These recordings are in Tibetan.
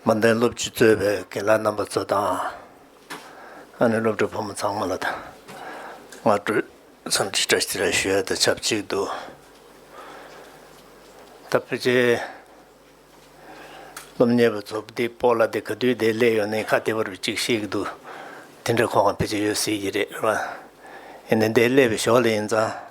མ་མཐའི་སློབ་སྤྱི་གཙོས་པའི་དགེ་ལགས་རྣམ་པ་ཚོ་དང། ཨ་ནེ་སློབ་གྲྭའི་བུ་མོ་ཚང་མ་ལ་དང། སྔ་དྲོའི་འཚམས་འདྲི་བཀྲ་ཤིས་རེ་ཞུ་ཡ་དང་ཆབས་ཅིག་ཏུ། ད་ཕོ་ཆའི་སློབ་གཉེར་བ་ཚོ་བདེ་སྤོ་ལ་དེ་ག་དུས་བདེ་སླེ་ཡོང་ནའི་ཁ་བདེ་བར་བུ་ཅིག་བཤད་ཀྱི་འདུག་དེ་འདྲ་ཁོ་གང་ཕལ་ཆེར་ཡོད་སྲིད་ཀྱི་རེད་རེད་བ། ཡིན་ནའི་བདེ་སླེ་བའི་ཞོར་ལ་ཡིན་ཙང།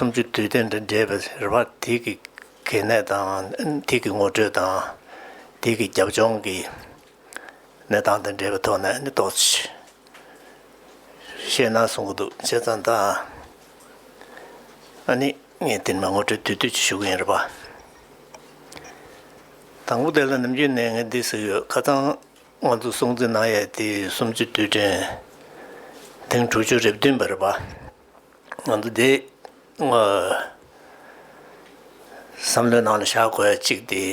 སུམ་ཅུ་དུས་སྟོན་དང་འབྲེལ་བའི་རེ་བ་དུས་ཀྱི་གལ་གནད་དང་དུས་ཀྱི་ངོ་སྤྲོད་དང་དུས་ཀྱི་རྒྱབ་ལྗོངས་ཀྱི་གནས་སྟངས་དང་འབྲེལ་བའི་ཐོག་ནས་ནི་དོགས་གཞི་ནང་གསུངས་ཀྱི་འདུག་བྱས་ཙང་ད་ནི་ངས་དེ་ནི་ངོ་སྤྲོད་དུས་དུས་ཀྱི་ཞུ་གི་ཡིན་རེད་པ། དང་པོ་དེ་ལ་ནམ་རྒྱུན་ནས་ངས་འདི་ཟེར་གི་ཡོད་ཁ་ཚང་ང་ཚོ་སྲུང་བརྩི་གནང་ཡས་དེ་སུམ་ཅུ་དུས་དྲན་ཐེངས་དྲུག་ཅུ་རེ་བདུན་པ་རེད་པ། ང་ཚོ་འདི་བསམ་བློའི་ནང་ལ་བཞག་དགོས་གཅིག་འདི་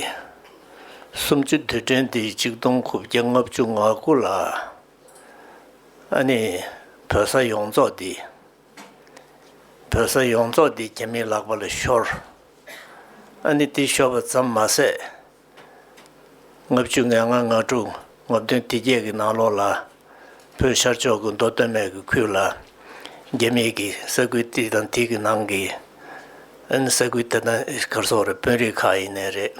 སུམ་ཅུ་དུས་དྲན་འདི་གཅིག་སྟོང་དགུ་བརྒྱ་ལྔ་བཅུ་ང་དགུ་ལ་ཨ་ནི་བོད་ས་ཡོངས་རྫོགས་འདི་བོད་ས་ཡོངས་རྫོགས་འདི་རྒྱ་མིའི་ལག་པ་ལ་ཤོར་ཨ་ནི་འདི་ཤོར་བ་ཙམ་མ་ཟད་ལྔ་བཅུ་ང་ལྔ་ང་དྲུག་ངོ་བདུན་སྡེ་བརྒྱད་ཀྱི་ནང་ལོགས་ལ། བོད་ཤར་ཕྱོགས་སྐུ་མདོ་སྟོད་སྨད་ཀྱི་ཁུལ་ལ། རྒྱ་མིས་ཀྱི་ས་ཁུལ་འདི་དང་འདི་གི་ནང་གི། ཨིན། ས་ཁུལ་དེ་དང་གར་སོགས་རེ་དཔོན་རིགས་ཁག་ཡིན་ནི་རེད།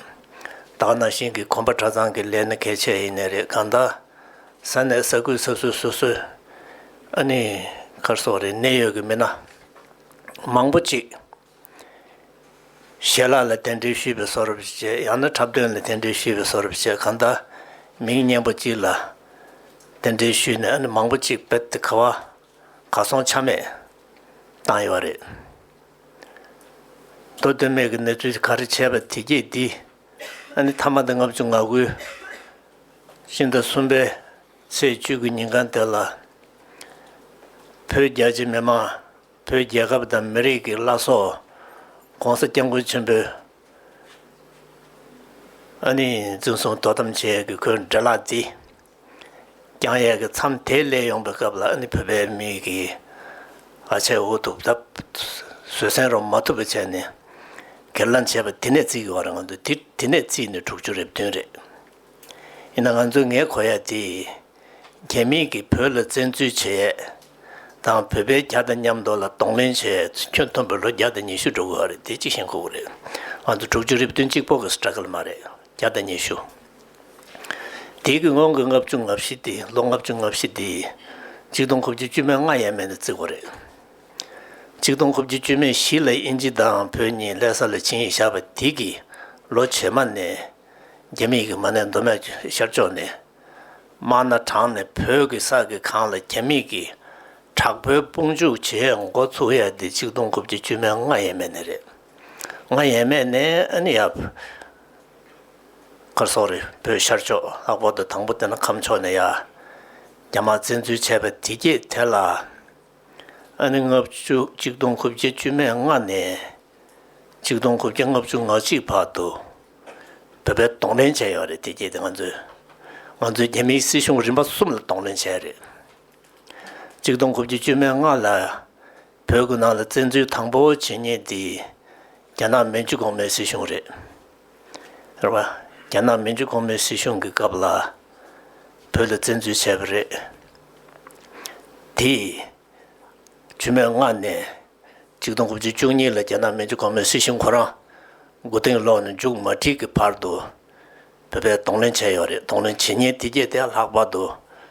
དག་ན་ཤིང་གི་གོམ་པ་གྲྭ་ཚང་གི་ལས་ནི་གལ་ཆེ་ཡིན་ནི་རེད་གང་དག། ས་གནས་ས་ཁུལ་ས་སྲོས་སོ་སོའི། ཨ་ནི། གར་སོགས་རེ་གནད་ཡོད་ཀྱི་མི་སྣ། མང་པོ་ཅིག། ཞལ་ལག་ལ་དེ་འདྲའི་བཤུས་པའི་སོ་རབ་ཅིག་བྱས་ཡང་ན་འཁྲབ་སྟོན་ལ་དེ་འདྲའི་བཤུས་པའི་སོ་རབ་ཅིག་གང་ལྟར་མིང་སྙན་པོ་གཅིག་ལ་དེ་འདྲའི་བཤུས་ནས་ཨ་ནི་མང་པོ་གཅིག་རྦད་དེ་ག་བ་གར་སོང་ཆ་མེད་བཏང་ཡོད་པ་རེད། མདོ་དོན་མེད་ཀྱི་གནས་ཚུལ་ག་རེ་བྱས་པ་དེ་རྒྱས་འདི་ཨ་ནི་ཐ་མ་དང་ལྔ་བཅུ་ང་དགུ་ཕྱི་ཟླ་གསུམ་པའི་ཚེས་བཅུ་དགུ་ཉིན་གང་དེ་ལ་བོད་རྒྱ་ཆེ་མི་མང་བོད་རྒྱལ་ཁབ་དང་མི་རིགས་ཀྱི་བླ་སྲོག ྋགོང་ས ྋསྐྱབས་མགོན་ཆེན་པོས་ཨ་ནི་འཛིན་བཟུང་དོ་དམ་བྱེད་ཡས་ཀྱི་ཁོའི་འདྲེ་ལག་རྫི་རྐྱང་ཡས་ཀྱི་མཚམས་དེ་སླེབས་ཡོང་པའི་སྐབས་ལ་ཨ་ནི་བོད་པའི་མི་ཡི་གི་ཨ་ཆད་འུ་ཐུག་ད་བཟོད་སྲན་རོགས་མ་ཐུབ་པ་བྱས་ནས་གེར་ལངས་བྱས་པ་དེ་ནས་བརྩིས་ཡོང་རེད་ང་ཚོ་དེ་ནས་བརྩིས་ནས་དྲུག་ཅུ་རེབ་བདུན་རེད་ཡིན་ན་ང་ཚོའི་ངའི་གོ་ཡས་དེ། རྒྱ་མིས་ཀྱིས་བོད་ལ་བཙན་འཛུལ་བྱེད་ཡས་དང་བོད་པའི་རྒྱ་དང་མཉམ་འདོགས་ལ་གདོང་ལེན་བྱེད་ཡས་ཁྱོད་མཐོན་པོ་ལོ་བརྒྱ་དང་ཉི་ཤུ་འགྲོ་དགོས་བ་རེད་དེ་གཅིག་ཤེས་མཁོ་བོ་རེད་ང་ཚོ་དྲུག་ཅུ་རེ་བདུན་གཅིག་པོ་གི Struggle མ་རེད་བརྒྱ་དང་ཉི་ཤུ་དེའི་གི་སྔོན་གི་ལྔ་བཅུ་ལྔ་བཞི་དེ་ལོ་ལྔ་བཅུ་ལྔ་བཞི་དེ་གཅིག་སྟོང་དགུ་བཅུ་བཅུ་མའི་ལྔ་ཡས་མས་ནས་བརྩིགས་བ་རེད་གཅིག་སྟོང་དགུ་བཅུ་བཅུ་མའི་བཞི་ལ་ཨིན་ཇི་དང་བོད་གཉིས་ལྷས་ས་ལ་བྱིན་ཡས་བཞག་པ་དེ་གི་ལོ་བྱེ་མ་ནས་རྒྱ་མིས་ཀྱིས་མ་ནས་མདོ་སྨད་ཤར་ཕྱོགས་ནས་དམར་ནག་དྲང་ནས་བོད་ཀྱི་ས་དགེ་གང་ལ་རྒྱ་མིས་ཀྱིས་དྲག་པོའི་དཔུང་འཇུག་བྱེད་མགོ་ཚུགས་ཡ་འདི་གཅིག་སྟོང་དགུ་བརྒྱ་བཅུ་མན་ལྔ་ཡས་མས་ནས་རེད་ལྔ་ཡས་མས་ནས་ཨ་ནི་ཡ་ཁར་སོ་རེད་བོད་ཤར་ཕྱོགས་ལྷག་པར་དུ་དང་པོ་དེ་ན་ཁམས་ཕྱོགས་ནས་ཡ་རྒྱ་དམར་བཙན་འཛུལ་བྱས་པ་དེ་རྒྱས་དེ་ལ། ཨ་ནི་ལྔ་བཅུ་གཅིག་སྟོང་དགུ་བརྒྱ་བཅུ་མེད་ལྔ་ནས་གཅིག་སྟོང་དགུ་བརྒྱ་ལྔ་བཅུ་ང་གཅིག་བར་དུ་བོད་པའི་གདོང་ལེན་བྱས་ཡོད་རེད་དེ་རྗེས་དེ་ང་ཚོས་ང་ཚོའི་རྒྱ་མིའི་སྲིད་གཞུང་རིམ་པ་གསུམ་ལ་གདོང་ལེན་བྱས་རེད། གཅིག་སྟོང་དགུ་བརྒྱ་བཅུ་མེད་ལྔ་ལ་བོད་ཀྱི་ནང་ལ་བཙན་འཛུལ་དང་པོ་བྱེད་ཉེན་དེ་རྒྱ་ནག་མན་ཇུ་གོང་མའི་སྲིད་གཞུང་རེད། རྒྱ་ནག་མིན་འཇུ་གོང་མའི་སྲིད་གཞུང་གི་སྐབས་ལ་བོད་ལ་བཙན་འཛུལ་བྱས་པ་རེད། དེས་ཆུ་མེད་མངགས་ནས་ཆིག་སྟོང་དགུ་བཅུ་བཅུ་གཉིས་ལ་རྒྱ་ནག་མིན་འཇུ་གོང་མའི་སྲིད་གཞུང་ཁོ་རང་མགོ་རྟིང་སློག་ནས་མཇུག་མ་འཁྲིད་ཀྱི་བར་དུ་བོད་པའི་གདོང་ལེན་བྱས་ཡོད་རེད། གདོང་ལེན་བྱེད་ཉེན་དེ་རྒྱས་དེ་ལྷག་པར་དུ་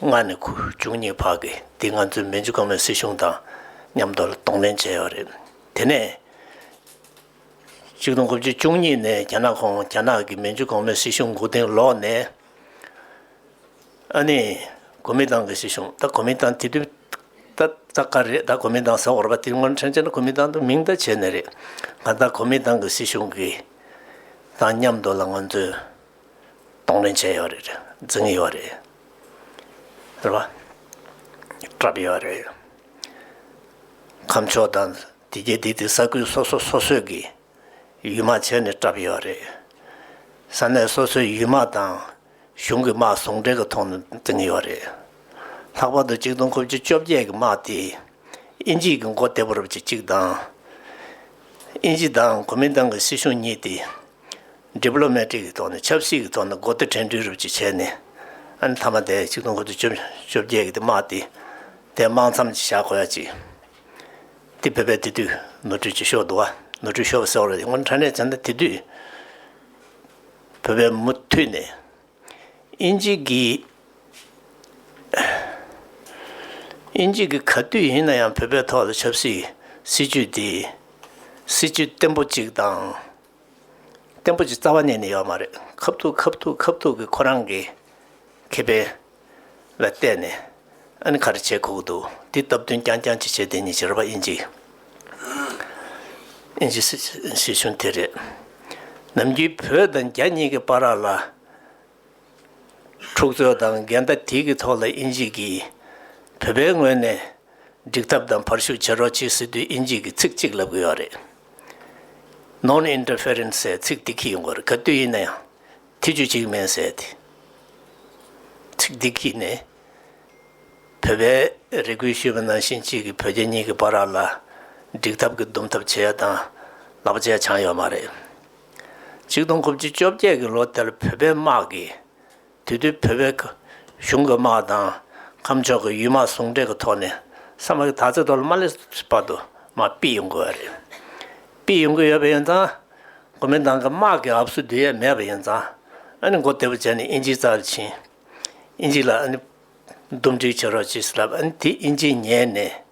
ལྔ་ནས་ཁུ་བྱུག་གཉིས་བར་གྱི་འདི་ང་ཚོའི་མན་ཇུ་ཀང་མའི་སྲིད་གཞུང་དང་མཉམ་དུ་གདོང་ལེན་བྱས་ཡོད་རེད། དེ་ནས་གཅིག་སྟོང་དགུ་བཅུ་བཅུ་གཉིས་ནས་རྒྱ་ནག་ཁོངས་རྒྱ་ནག་གི་མན་ཇུ་གོང་མའི་སྲིད་གཞུང་འགོ་རྟིང་ལོག་ནས། ཨ་ནི་གོ་མིན་ཏང་གི་སྲིད་གཞུང་ད་གོ་མིན་ཏང་དེ་དུས་ད་ད་ག་རེད་ད་གོ་མིན་ཏང་ཟེར་བ་རེད་པ་དེ་སྔོན་ཁྲེང་ཆིན་གོ་མིན་ཏང་དུ་མིང་བརྡ་བྱས་ནས་རེད། ང་ད་གོ་མིན་ཏང་གི་སྲིད་གཞུང་གི་དང་མཉམ་དུ་ལ་ང་ཚོས་གཏོང་ལེན་བྱས་ཡོད་རེད། འཛིན་གྱི་ཡོད་རེད། ཟེར་བ། བཀྲབས་ཡོད་རེད། ཁམས་ཕྱོགས་དང་དེ་རྒྱལ་དེ་དེ་ས་ཁུལ་སོ་སོ་སོ་སོས་ཀྱིས་ཡུལ་དམག་བྱས་ནས་བཀྲབས་ཡོད་རེད། ས་གནས་སོ་སོའི་ཡུལ་དམག་དང་གཞུང་གི་དམག་ཟུང་འབྲེལ་གྱི་ཐོག་ནས་འཛིན་གྱི་ཡོད་རེད། ལྷག་པར་དུ་གཅིག་སྟོང་དགུ་བཅུ་བཅོ་བརྒྱད་ཀྱི་དམག་དེ་དབྱིན་ཇིས་ཀྱི་མགོ་བདེ་པོར་བྱེད་ཅིག་དང། དབྱིན་ཇི་དང་གོ་མིན་ཏང་གི་སྲིད་གཞུང་གཉིས་དེ Diplomatic། གི་ཐོག་ནས་ཆབ་སྲིད་ཀྱི་ཐོག་ནས་སྒོ་བསྟེ་ཕྲན་སྒྲིག་རུབ་ཅིག་བྱས་ནས། ཨ་ནི་ཐ་མ་དེ་ཆིག་སྟོང་དགུ་བཅུ་བཅོ་བརྒྱད་ཀྱི་དེ་དམག་དེ་དེ་དམག་མཚམས་ཅིག་བཞག་དགོས་ཡ་ཅིག། དེ་བོད་པའི་དེ་དུས་ནོར་འཁྲུལ་ཅིག་ཤོར་འདུག་བ། ནོར་འཁྲུལ་ཤོར་བ་གསལ་བོ་རེད་སྔོན་ཕྲ་ནས་བྱས་ན་དེ་དུས་བོད་པའི་མུ་མཐུད་ནས་ཨིན་ཇི་གི་ཨིན་ཇི་གི་ག་དུས་ཡིན་ན་ཡང་བོད་པའི་ཐོག་ལ་ཆབ་སྲིད་སྲིད་ཇུས་དེ་སྲིད་ཇུས་བརྟན་པོ་ཅིག་དང། བརྟན་པོ་ཅིག་རྩ་བ་གནས་ནས་ཡོད་མ་རེད་ཁབ་ཐུག་ཁབ་ཐུག་ཁབ་ཐུག་གི་ཁོ་རང་གི་ཁེ་ཕན་ལ་བལྟས་ནས་ཨ་ནི་ག་རེ་བྱེད་ཁོག་འདུག་འདི་སྟབས་བསྟུན་རྐྱང་རྐྱང་ཅིག་བྱེད་དེ་གཉིས་ཀྱི་རེ་བ་དབྱིན་ཇི་དབྱིན་ཇི་སྲིད་བྱུང་དེ་རེད་ནམ་རྒྱུན་བོད་དང་རྒྱ་གཉིས་ཀྱི་པ་རག་ལ་འཁྲུག་རྩོད་དང་འགལ་ཟླ་དེ་གི་ཐོག་ལ་དབྱིན་ཇི་གིས་བོད་པའི་ངོས་ནས་འགྲིག་ཐབས་དང་བར་ཞུགས་བྱེད་རོགས་བྱེད་སྲིད་དུས་དབྱིན་ཇི་གིས་ཚིག་གཅིག་ལབ་གི་ཡོད་རེད། Non Interference ཟེར་ཚིག་དེ་གི་ཡོད་དགོས་རེད་ག་དུས་ཡིན་ན་ཡང་ཐེ་ཇུས་བྱེད་ཀྱི་མེད་ཟེར་དེ། ཚིག་དེ་གི་ནི་བོད་པའི་རེ་སྐུལ་ཞུས་པ་ནང་བཞིན་གཅིག་གིས་བོད་རྒྱ་གཉིས་ཀྱི་བར་ར་ལ་འགྲིག་ཐབས་ཀྱི་འདུམ་ཐབས་བྱེད་ཡ་དང་ལག་བཅད་བྱང་ཡོད་མ་རེད། ཆིག་སྟོང་དགུ་བཅུ་བཅོ་བརྒྱད་ཀྱི་ལོ་དེར་བོད་པའི་དམག་གིས་དུས་བདེ་བོད་པའི་གཞུང་གི་དམག་དང་ཁམས་ཕྱོགས་ཀྱི་ཡུལ་དམག་ཟུང་འབྲེལ་གྱི་ཐོག་ནས་ས་མ་གི་དར་རྩེ་དོ་ལ་མ་ལེ་སི་བར་དུ་དམག་སྤིད་ཡོང་གི་ཡོད་རེད། སྤིད་ཡོང་གི་ཡོད་པ་ཡིན་ཙང་གོ་མིན་ཏང་གི་དམག་གིས་ཨབ་སུ་དུས་ཡས་མེད་པ་ཡིན་ཙང་ཨ་ནི་མགོ་བདེ་པོ་བྱས་ནས་དབྱིན་ཇིའི་རྩར་ཕྱིན། དབྱིན་ཇི་ལ་ཨ་ནི་འདུམ་འགྲིག་བྱེད་རོགས་ཅེས་ལབ་ཨ་ནི་དེས་དབྱིན་ཇིས་ཉན་ནས།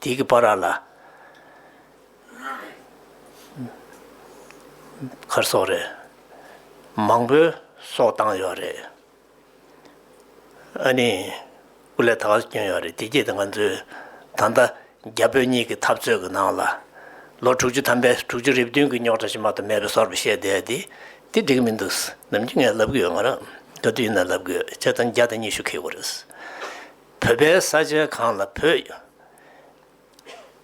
དེ་གི་པཱ་ར་ལ། མཁར་སོགས་རེད། མང་པོའི་སོགས་བཏང་ཡོད་རེད། ཨ་ནི་སྐུ་ལས་ད་ག་བསྐྱོན་ཡོད་རེད་དེ་རྗེས་དེ་ང་ཚོའི་ད་ལྟ་རྒྱ་བོད་གཉིས་ཀྱི་འཐབ་རྩོད་ཀྱི་ནང་ལ་ལོ་དྲུག་ཅུ་ཐམ་པའི་དྲུག་ཅུ་རེ་བདུན་གྱི་རྙོག་དྲ་ཕྱི་མ་དུ་མེད་པའི་སོར་བ་བཤད་བསྡད་དེ་དེ་འགྲིག་མི་འདུག་ནམ་རྒྱུན་ངས་ལབ་གི་ཡོད་ང་རང་ག་དུས་ཡིན་ན་ལབ་གི་ཡོད་བྱས་ཙང་བརྒྱ་དང་ཉི་ཤུ་འཁེལ་དགོས་རེད། བོད་པའི་ས་ཆའི་གང་ལ་བོད་ཡོད།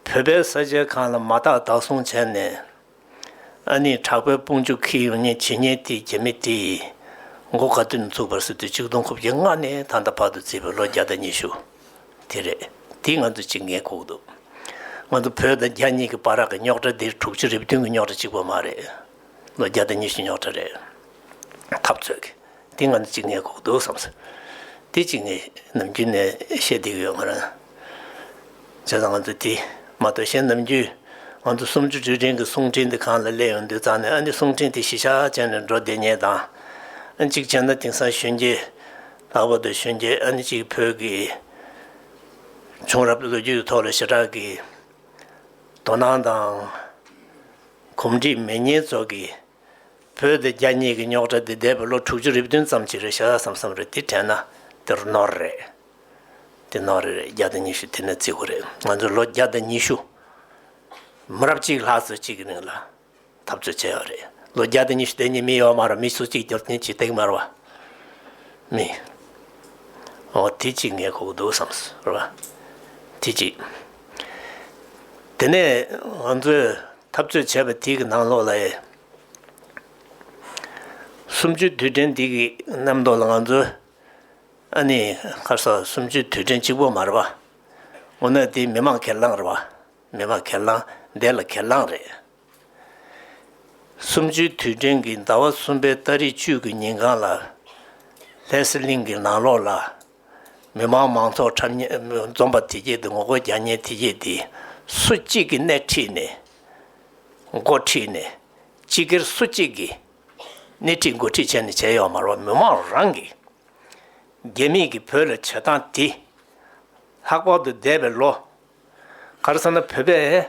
བོད་པའི་ས་ཆའི་གང་ལ་མ་དག་བདག་བཟུང་བྱས་ནས། ཨ་ནི་དྲག་པའི་དཔུང་འཇུག་ཁི་ཡོ་ཉེ་ཇི་སྙེད་དེའི་རྒྱ་མི་དེ་ཡིས་མགོ་ག་དུས་ནས་བཙུགས་པར་སོ་དུས་གཅིག་སྟོང་དགུ་བརྒྱ་ལྔ་ནས་ད་ལྟ་བར་དུ་བརྩིས་པའི་ལོ་བརྒྱ་དང་ཉི་ཤུ་དེ་རེད་དེ་ང་ཚོ་ཅིག་ངས་ཁུག་འདུག་ང་ཚོ་བོད་དང་རྒྱ་གཉིས་ཀྱི་བར་རག་གི་རྙོག་དྲ་འདིར་དྲུག་ཅུ་རེ་བདུན་གྱི་རྙོག་དྲ་གཅིག་པོ་མ་རེད། ལོ་བརྒྱ་དང་ཉི་ཤུ་ཉག་ཕྲ་རེད། འཐབ་རྩོད་ཀྱི་དེ་ང་ནི་གཅིག་ངའི་གོག་འདུག་བསམ་སོང། དེ་གཅིག་ངས་ནམ་རྒྱུན་ནས་བཤད་བསྡད་ཀྱི་ཡོད་ང་རང། བྱས་ཙང་ང་ཚོ་དེ་མ་གཏོགས་གཞན་ནམ་རྒྱུན་ང་ཚོ་སུམ་ཅུ་དྲུག་ཅན་གྱི་གསུང་འཕྲིན་དེ་གང་ལ་སླེབས་ཡོང་དུས་ཙང་ནས་ཨ་ནི་གསུང་འཕྲིན་དེ་གཞི་ཆགས་ཅན་ནས་འགྲོ་བསྡད་ཉེས་དང། གཅིག་བྱས་ན་དེང་སང་གཞོན་སྐྱེས། ལྷག་པར་དུ་གཞོན་སྐྱེས་ཨ་ནི་གཅིག་བོད་ཀྱི་བྱུང་རབས་ལོ་རྒྱུས་ཐོག་ལ་ཞེ་དྲག་གི་དོ་སྣང་དང། གོམས་འདྲིས་མེད་ཉེས་ཚོགས་ཀྱིས། བོད་དེ་རྒྱ་གཉིས་ཀྱི་རྙོག་དྲ་འདི་འདས་པའི་ལོ་དྲུག་ཅུ་རེ་བདུན་ཙམ་གྱི་རེད་ཤ་ཟ་ཟམ་ཟམ་རེད་དེ་དྲན་ན་དེར་ནོར་རེད། དེ་ནོར་རེད་རེད་བརྒྱ་དང་ཉི་ཤུ་དེ་ནི་བརྩི་གོ་རེད་ང་ཚོས་ལོ་བརྒྱ་དང་ཉི་ཤུ། མི་རབས་གཅིག་ལྷག་ཚོས་གཅིག་གི་རིང་ལ་འཐབ་རྩོད་བྱས་ཡོད་རེད་ལོ་བརྒྱ་དང་ཉི་ཤུ་དེ་ཉིད་མི་ཡོད་མ་རུང་མི་ཚོགས་གཅིག་གྱུར་ཅན་གྱི་སྟེང་མར་བ། མི། འོ་དེ་གཅིག་ངས་གོ་གི་འདུག་བསམ་ཟེར་བ། དེ་གཅིག། དེ་ནས་ང་ཚོས་འཐབ་རྩོད་བྱས་པ་དེའི་ནང་ལོགས་ལ། གསུམ་བཅུའི་དུས་དྲན་དེ་གི་རྣམ་རྟོག་ལ་ང་ཚོས་ཨ་ནི་ཁ་སང་གསུམ་བཅུའི་དུས་དྲན་གཅིག་པོ་མ་རེད་པ། འོ་ན་དེ་མི་དམངས་ཁེར་ལངས་རེད་པ། མི་དམངས་ཁེར་ལངས་བདེ་ལ་ཁེར་ལངས་རེད། གསུམ་བཅུའི་དུས་དྲན་གྱི་ཟླ་བ་གསུམ་པའི་སྟ་རེ་བཅུ་གི་ཉིན་གང་ལ་ལྷས་སེ་གླིང་གི་ནང་ལོགས་ལ། མི་དམངས་མང་ཚོགས་འཁྲབ་གཉེར་འཛོམས་པ་དེ་རྗེས་དེ་ངོ་རྒོལ་རྒྱག་ཉེན་དེ་རྗེས་དེ་སུ་གཅིག་གིས་སྣེ་ཁྲིད་ནས་འགོ་ཁྲིད་ནས་སྤྱི་སྒེར་སུ་གཅིག་གིས་སྣེ་ཁྲིད་འགོ་ཁྲིད་བྱས་ནས་བྱས་ཡོད་མར་བ་མི་དམངས་རང་གིས་རྒྱ་མིས་ཀྱི་བོད་ལ་བྱེད་སྟངས་དེ་ལྷག་པར་དུ་འདས་པའི་ལོ། ག་རེ་ཟེར་ན་བོད་པའི།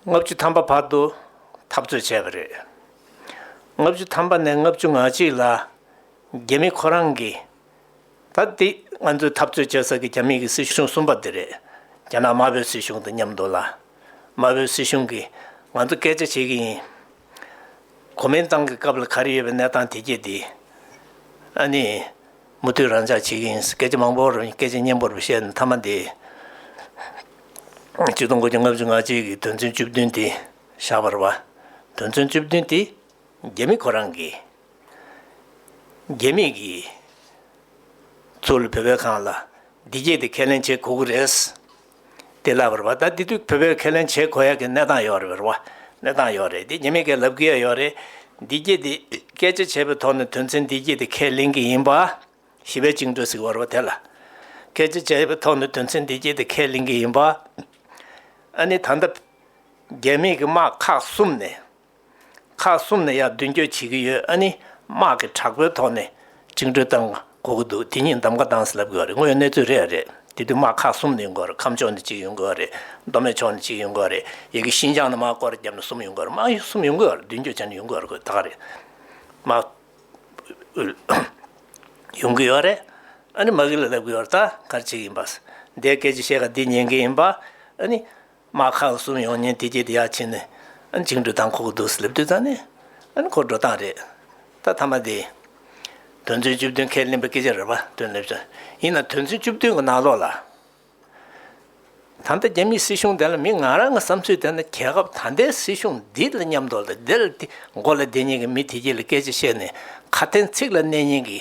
ལྔ་བཅུ་ཐམ་པ་བར་དུ་འཐབ་རྩོད་བྱས་པ་རེད། ལྔ་བཅུ་ཐམ་པ་ནས་ལྔ་བཅུ་ང་གཅིག་ལ་རྒྱ་མི་ཁོ་རང་གིས། ད་འདི་ང་ཚོས་འཐབ་རྩོད་བྱེད་ས་གི་རྒྱ་མི་གི་སྲིད་གཞུང་གསུམ་པ་འདི་རེད། རྒྱ་ནག་དམར་བོའི་སྲིད་གཞུང་དང་མཉམ་འདུག་ལ། དམར་བོའི་སྲིད་གཞུང་གིས་ང་ཚོ་སྐད་ཆ་བྱེད་གི་ཡིན། གོ་མིན་ཏང་གི་སྐབས་ལ་ག་རེ་ཡོད་པའི་གནས་སྟངས་དེ་རྒྱས་འདི། ཨ་ནི། མུ་མཐུད་རང་འཇགས་བྱེད་ཀྱི་ཡིན། སྐད་ཆ་མང་པོ་རུ་སྐད་ཆ་སྙན་པོ་རུ་བཤད་ནས་མཐའ་མ་འདི། སྤྱི་སྟོང་དགུ་བརྒྱ་ལྔ་བཅུ་ང་གཅིག་གི་དོན་ཚན་བཅུ་བདུན་དེ་བཞག་པར་བ། དོན་ཚན་བཅུ་བདུན་དེ་རྒྱ་མི་ཁོ་རང་གིས། རྒྱ་མིས་ཀྱིས། ཚུར་ལ་བོད་པའི་གང་ལ་འདི་སྐད་དེ་ཁས་ལེན་བྱེད་དགོས་ཀྱི་རེད། དེ་ལ་བར་བ་ད་དེ་དུས་བོད་པའི་ཁས་ལེན་བྱེད་དགོས་ཡ་གི་གནས་སྟངས་ཡོད་རེད་བར་བ། གནས་སྟངས་ཡོད་རེད་དེ་ཉེས་མེད་ཀས་ལབ་གི་ཡ་ཡོད་རེད། འདི་སྐད་དེ། སྐད་ཆ་བྱས་པའི་ཐོག་ནས་དོན་ཚན་འདི་སྐད་དེ་ཁས་ལེན་གི་ཡིན་པ། ཞི་བའི་བཅིངས་གྲོལ་ཟིག་བར་བ་དེ་ལ། སྐད་ཆ་བྱས་པའི་ཐོག་ནས་དོན་ཚན་འདི་སྐད་དེ་ཁས་ལེན་གི་ཡིན་པ། ཨ་ནི་ད་ལྟ། རྒྱ་མིས་ཀྱི་དམག་ཁག་གསུམ་ནས། ཁག་གསུམ་ནས་ཡང་མདུན་སྐྱོད་བྱེད་ཀྱི་ཡོད་ཨ་ནི་དམག་གི་དྲག་པོའི་ཐོག་ནས་བཅིངས་འགྲོལ་བཏང་དགོས་ཀྱི་འདུག་དེ་གཉིས་འདམ་ག་གདངས་སུ་ལབ་དགོས་རེད་དངོས་ཡོད་གནས་ཚུལ་རེད་རེད་དེ་དུས་དམག་ཁག་གསུམ་ནས་ཡོང་དགོས་རེད་ཁམས་ཕྱོགས་ནས་གཅིག་ཡོང་དགོས་རེད་མདོ་སྨད་ཕྱོགས་ནས་གཅིག་ཡོང་དགོས་རེད་ཡི་གེ་ཤིན་ཅང་ནས་དམག་སྐོར་བརྒྱབ་ནས་གསུམ་ཡོང་དགོས་རེད་དམག་གསུམ་ཡོང་དགོས་རེད་མདུན་སྐྱོད་བྱ་ནི་ཡོང་དགོས་རེད་ད་ག་རེད་དམག་ཨུད་ཡོང་གི་ཡོད་རེད་ཨ་ནི་དམག་ཨུད་ལ་ལབ་གི་ཡོད་རེད་ད་ག་རེ་བྱེད་ཀྱི་ཡིན་པ་སེ་འདས་སྐད་ཅིག་བཤད་ག་འདི་ཉན་གྱི་ཡིན་པ་ཨ་ནི། དམག་ཁག་གསུམ་ཡོང་ཉིན་དེ་རྗེས་དེ་ཡར་ཕྱིན་ནས་འཇིགས་འགྲོ་དང་ཁོག་རྡུལ་སླེབས་དུས་ཙམ་ནས་ཁོ་འགྲོ་སྟངས་རེད། ད་མཐའ་མ་དེ། དོན་ཚན་བཅུ་བདུན་ཁས་ལེན་པའི་སྐད་ཆ་རེ་བ་དོན་སླེབས་སོང། ཡིན་ནའང་དོན་ཚན་བཅུ་བདུན་གྱི་ནང་ལོགས་ལ། ད་ལྟ་རྒྱ་མིའི་སྲིད་གཞུང་དེ་ལ་མི་ང་རང་གི་བསམ་ཚུལ་དེ་ནི་རྒྱལ་ཁབ་ད་ལྟའི་སྲིད་གཞུང་འདི་ལ་མཉམ་དུ་ལ་དེ་ལ་དེ་མགོ་ལ་དེ་གཉིས་ཀྱི་མི་དེ་གཉིས་ལ་སྐད་ཆ་བཤད་ནས་ཁ་དན་ཚིག་ལ་གནས་ཉན་གྱི།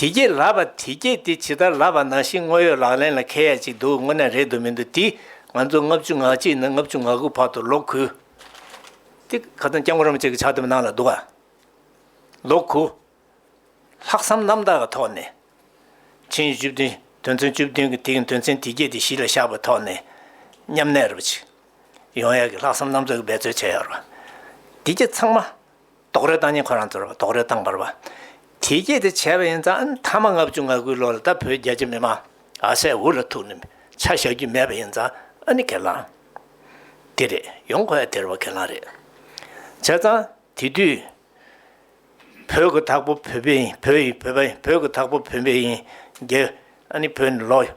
དེ་སྐྱེས་ལབ་པ་དེ་སྐྱེས་དེ་ཇི་ལྟར་ལབ་པ་ནང་བཞིན་དངོས་ཡོད་ལག་ལེན་ལ་ཁེལ་ཡ་ཅིག་འདུག་དངོས་གནས་རེད་འདུག་མི་འདུག་དེས་ང་ཚོ་ལྔ་བཅུ་ང་གཅིག་ནས་ལྔ་བཅུ་ང་དགུ་བར་དུ་ལོག་ཁུ། དེ་ག་ཚང་སྐྱབས་མགོན་རམ་ཅིག་གི་ཕྱག་དེབ་ནང་ལ་འདུག་ག། ལོག་ཁུ། ལྷག་བསམ་རྣམ་དག་གི་ཐོག་ནས། ཕྱིན་བཅུ་བདུན་དོན་ཚན་བཅུ་བདུན་གྱི་དེའི་དོན་ཚན་དེ་སྐྱེས་དེ་གཞི་ལ་བཞག་པའི་ཐོག་ནས། མཉམ་གནས་རུ་ཅིག། ཡོང་ཡ་གི་ལྷག་བསམ་རྣམ་དག་གི་འབད་རྩོལ་བྱེད་ཡ་རུ། དེ་སྐྱེས་ཚང་མ། རྡོག་རོལ་བཏང་ཉིན་ཁོ་རང་ཚོར་རྡོག་རོལ་བཏང་བར་བ་དེས་སྐྱེལ་ཏེ་བྱས་པ་ཡིན་ཙང་མཐའ་མ་ལྔ་བཅུ་ང་དགུའི་ལོ་ལ་ད་བོད་རྒྱ་ཆེ་མི་མང་ཨ་སའི་འུ་ལ་ཐུག་ནས་ཆ་བཞག་རྒྱུ་མེད་པ་ཡིན་ཙང་ཨ་ནི་གེ་ལང་དེ་རེད་ཡོང་ཁོ་ཡང་དེར་བ་གེ་ལང་རེད་བྱས་ཙང་དེ་དུས་བོད་གི་དྭགས་པོ་བོད་པའི་ཡིན་བོད་ཡིན་བོད་པ་ཡིན་བོད་གི་དྭགས་པོ་བོད་པའི་ཡིན་རྒྱལ་ཨ་ནི་བོད་ནི་ལོག་ཡོང།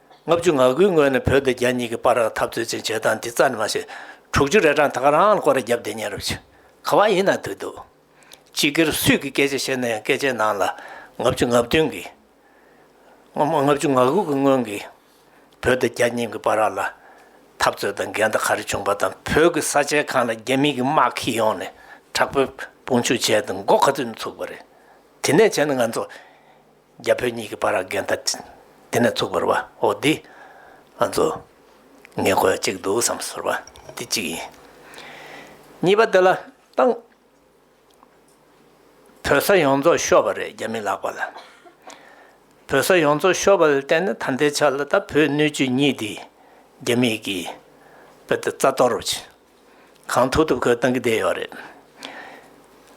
ལྔ་བཅུ་ང་དགུའི་སྔོན་ནས་བོད་དང་རྒྱ་གཉིས་ཀྱི་པར་ར་འཐབ་རྩོད་ཅིག་བྱེད་སྟངས་འདི་རྩ་ནས་མ་བྱེད། དྲུག་ཅུ་རེ་གྲངས་ད་ག་རང་ལ་སྐོར་ར་བརྒྱབ་བསྡད་ཉན་རབས་བྱེད་ག་བ་ཡིན་ན་དུས་འདུག། སྤྱི་སྒེར་སུས་ཀྱི་སྐད་ཆ་བཤད་ན་ཡང་སྐད་ཆའི་ནང་ལ་ལྔ་བཅུ་ང་བདུན་གྱི། ལྔ་བཅུ་ང་དགུ་གྱི་སྔོན་གྱི་བོད་དང་རྒྱ་གཉིས་ཀྱི་པར་ར་ལ་འཐབ་རྩོད་དང་འགལ་ཟླ་ག་རེ་བྱུང་པ་དང་བོད་ཀྱི་ས་ཆའི་གང་ལ་རྒྱ་མི་གྱི་དམག་ཁྱི་ཡོང་ནས་དྲག་པོའི་དཔུང་འཇུག་བྱས་དང་མགོ་ག་ཚོད་ནས་ཚུགས་པ་རེད། དེ་ནས་བྱས་ན་ང་ཚོ། རྒྱ་བོད་གཉིས་ཀྱི་བར་འགལ་ཟླ་དེ་ནས་ཚུགས་པར་བ་ཨོ་འདི་ང་ཚོ་ངེས་དགོས་གཅིག་འདུག་བསམ་ཟོར་བ་འདི་གཅིག་ཡིན། གཉིས་པ་དེ་ལ་ཏང་བོད་ས་ཡོངས་རྫོགས་ཤོར་བ་རེད་རྒྱ་མི་ལགས་པ་ལ་བོད་ས་ཡོངས་རྫོགས་ཤོར་བ་ལ་བརྟེན་ནས་ད་ལྟའི་ཆར་ལ་ད་བོད་སྣོད་བཅུད་གཉིས་འདི་རྒྱ་མིས་ཀྱིས་བོད་དེ་རྩ་གཏོར་རུ་བྱེད། གང་ཐུབ་ཐུབ་ཁོས་བཏང་གི་བསྡད་ཡོད་རེད།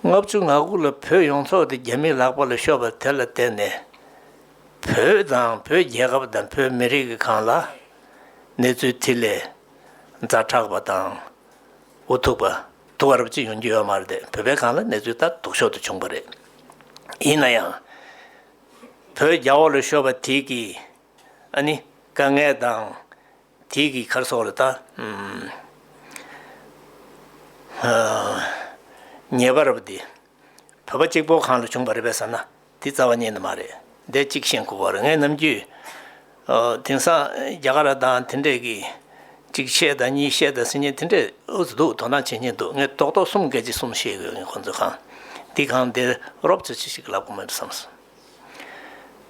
ལྔ་བཅུ་ང་དགུ་ལ་བོད་ཡོངས་རྫོགས་དེ་རྒྱ་མིའི་ལག་པ་ལ་ཤོར་བ་དེ་ལ་བརྟེན་ནས། བོད་དང་བོད་རྒྱལ་ཁབ་དང་བོད་མི་རིགས་གང་ལ་གནས་ཚུལ་ཐིག་ལེ་རྫ་དྲག་པ་དང་འུ་ཐུག་པ་དུ་བ་རབ་ཅིག་ཡོང་རྒྱུ་ཡོད་མ་རེད་བོད་པའི་གང་ལ་གནས་ཚུལ་ལྟར་དུག་ཤོར་དུ་བྱུང་པ་རེད། ཡིན་ན་ཡང། བོད་རྒྱ་བོ་ལ་ཤོར་བ་དེ་གིས་ཨ་ནི་དཀའ་ངལ་དང། དེའི་གིས་ཁར་སོགས་ལ་བལྟ། ཉེས་པར་བདེ། བོད་པ་གཅིག་པོ་གང་ལ་བྱུང་བ་རེད་པས་ཟེར་ན་དེ་རྩ་བ་ཉིད་ནི་མ་རེད་བདེ་གཅིག་ཤེས་མཁོ་བར་ངས་ནམ་རྒྱུན། དེང་སང་རྒྱ་གར་དང་དེ་འདྲས་ཀྱིས་གཅིག་བཤད་དང་གཉིས་བཤད་དང་ཟེར་ཉིན་དེ་འདྲས་འུ་ཚོ་སྡུག་དོག་སྣང་བྱེད་ཉིན་འདུག་ངས་རྡོག་རྡོག་གསུམ་སྐད་ཅིག་གསུམ་བཤད་དགོས་ངས་ཁོང་ཚོས་གང་འདིར་རོབ་ཚོད་ཅི་ཞིག་ལབ་དགོས་མེད་བསམ་སོང།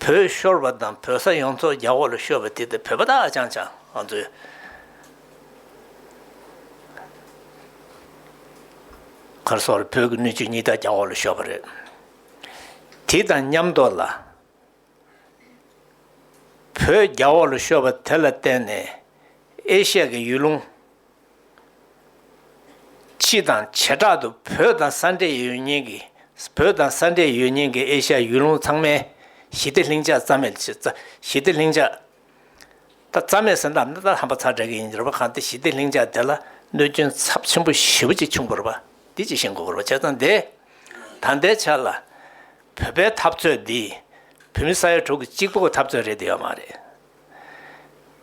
བོད་ཤོར་བ་དང་བོད་ས་ཡོངས་རྫོགས་རྒྱ་འོག་ལ་ཤོར་བ་དེ་དང་བོད་པ་དག་ཧ་ཅང་ཅང་ང་ཚོའི། གར་སོང་རེད་བོད་ཀྱི་སྣོད་བཅུད་གཉིས་དག་རྒྱ་འོག་ལ་ཤོར་བ་རེད། དེ་དང་མཉམ་དུ་ལ། བོད་རྒྱ་འོག་ལ་ཤོར་བ་དེ་ལ་བརྟེན་ནས་ཨེ་ཤ་ཡའི་ཡུལ་ལུང། ཕྱི་དང་བྱེ་བྲག་ཏུ་བོད་དང་ས་འབྲེལ་ཡོད་ཉེན་གྱི་བོད་དང་ས་འབྲེལ་ཡོད་ཉེན་གྱི་ཨེ་ཤ་ཡུལ་ལུང་ཚང་མའི་ཞི་བདེ་ལྷིང་འཇགས་རྩ་མེད་བྱེད་ཞི་བདེ་ལྷིང་འཇགས། ད་རྩ་མེད་ཟེར་ནའམ་ད་ཧམ་པ་ཚ་དྲག་གི་ཡིན་རེད་པ་གང་དེ་ཞི་བདེ་ལྷིང་འཇགས་དེ་ལ་གནོད་སྐྱོན་ཚབས་ཆེན་པོ་ཞི་བོ་ཅིག་བྱུང་དགོས་རེད་པ་འདི་ཅིག་ཤེས་དགོས་རེད་པ་བྱས་ཙང་འདི་ད་ལྟའི་ཆ་ལ་བོད་པའི་འཐབ་རྩོད་འདི་བོད་མི་ས་ཡ་དྲུག་གི་གཅིག་པོ་གི་འཐབ་རྩོད་རེད་དེ་ཡོད་མ་རེད་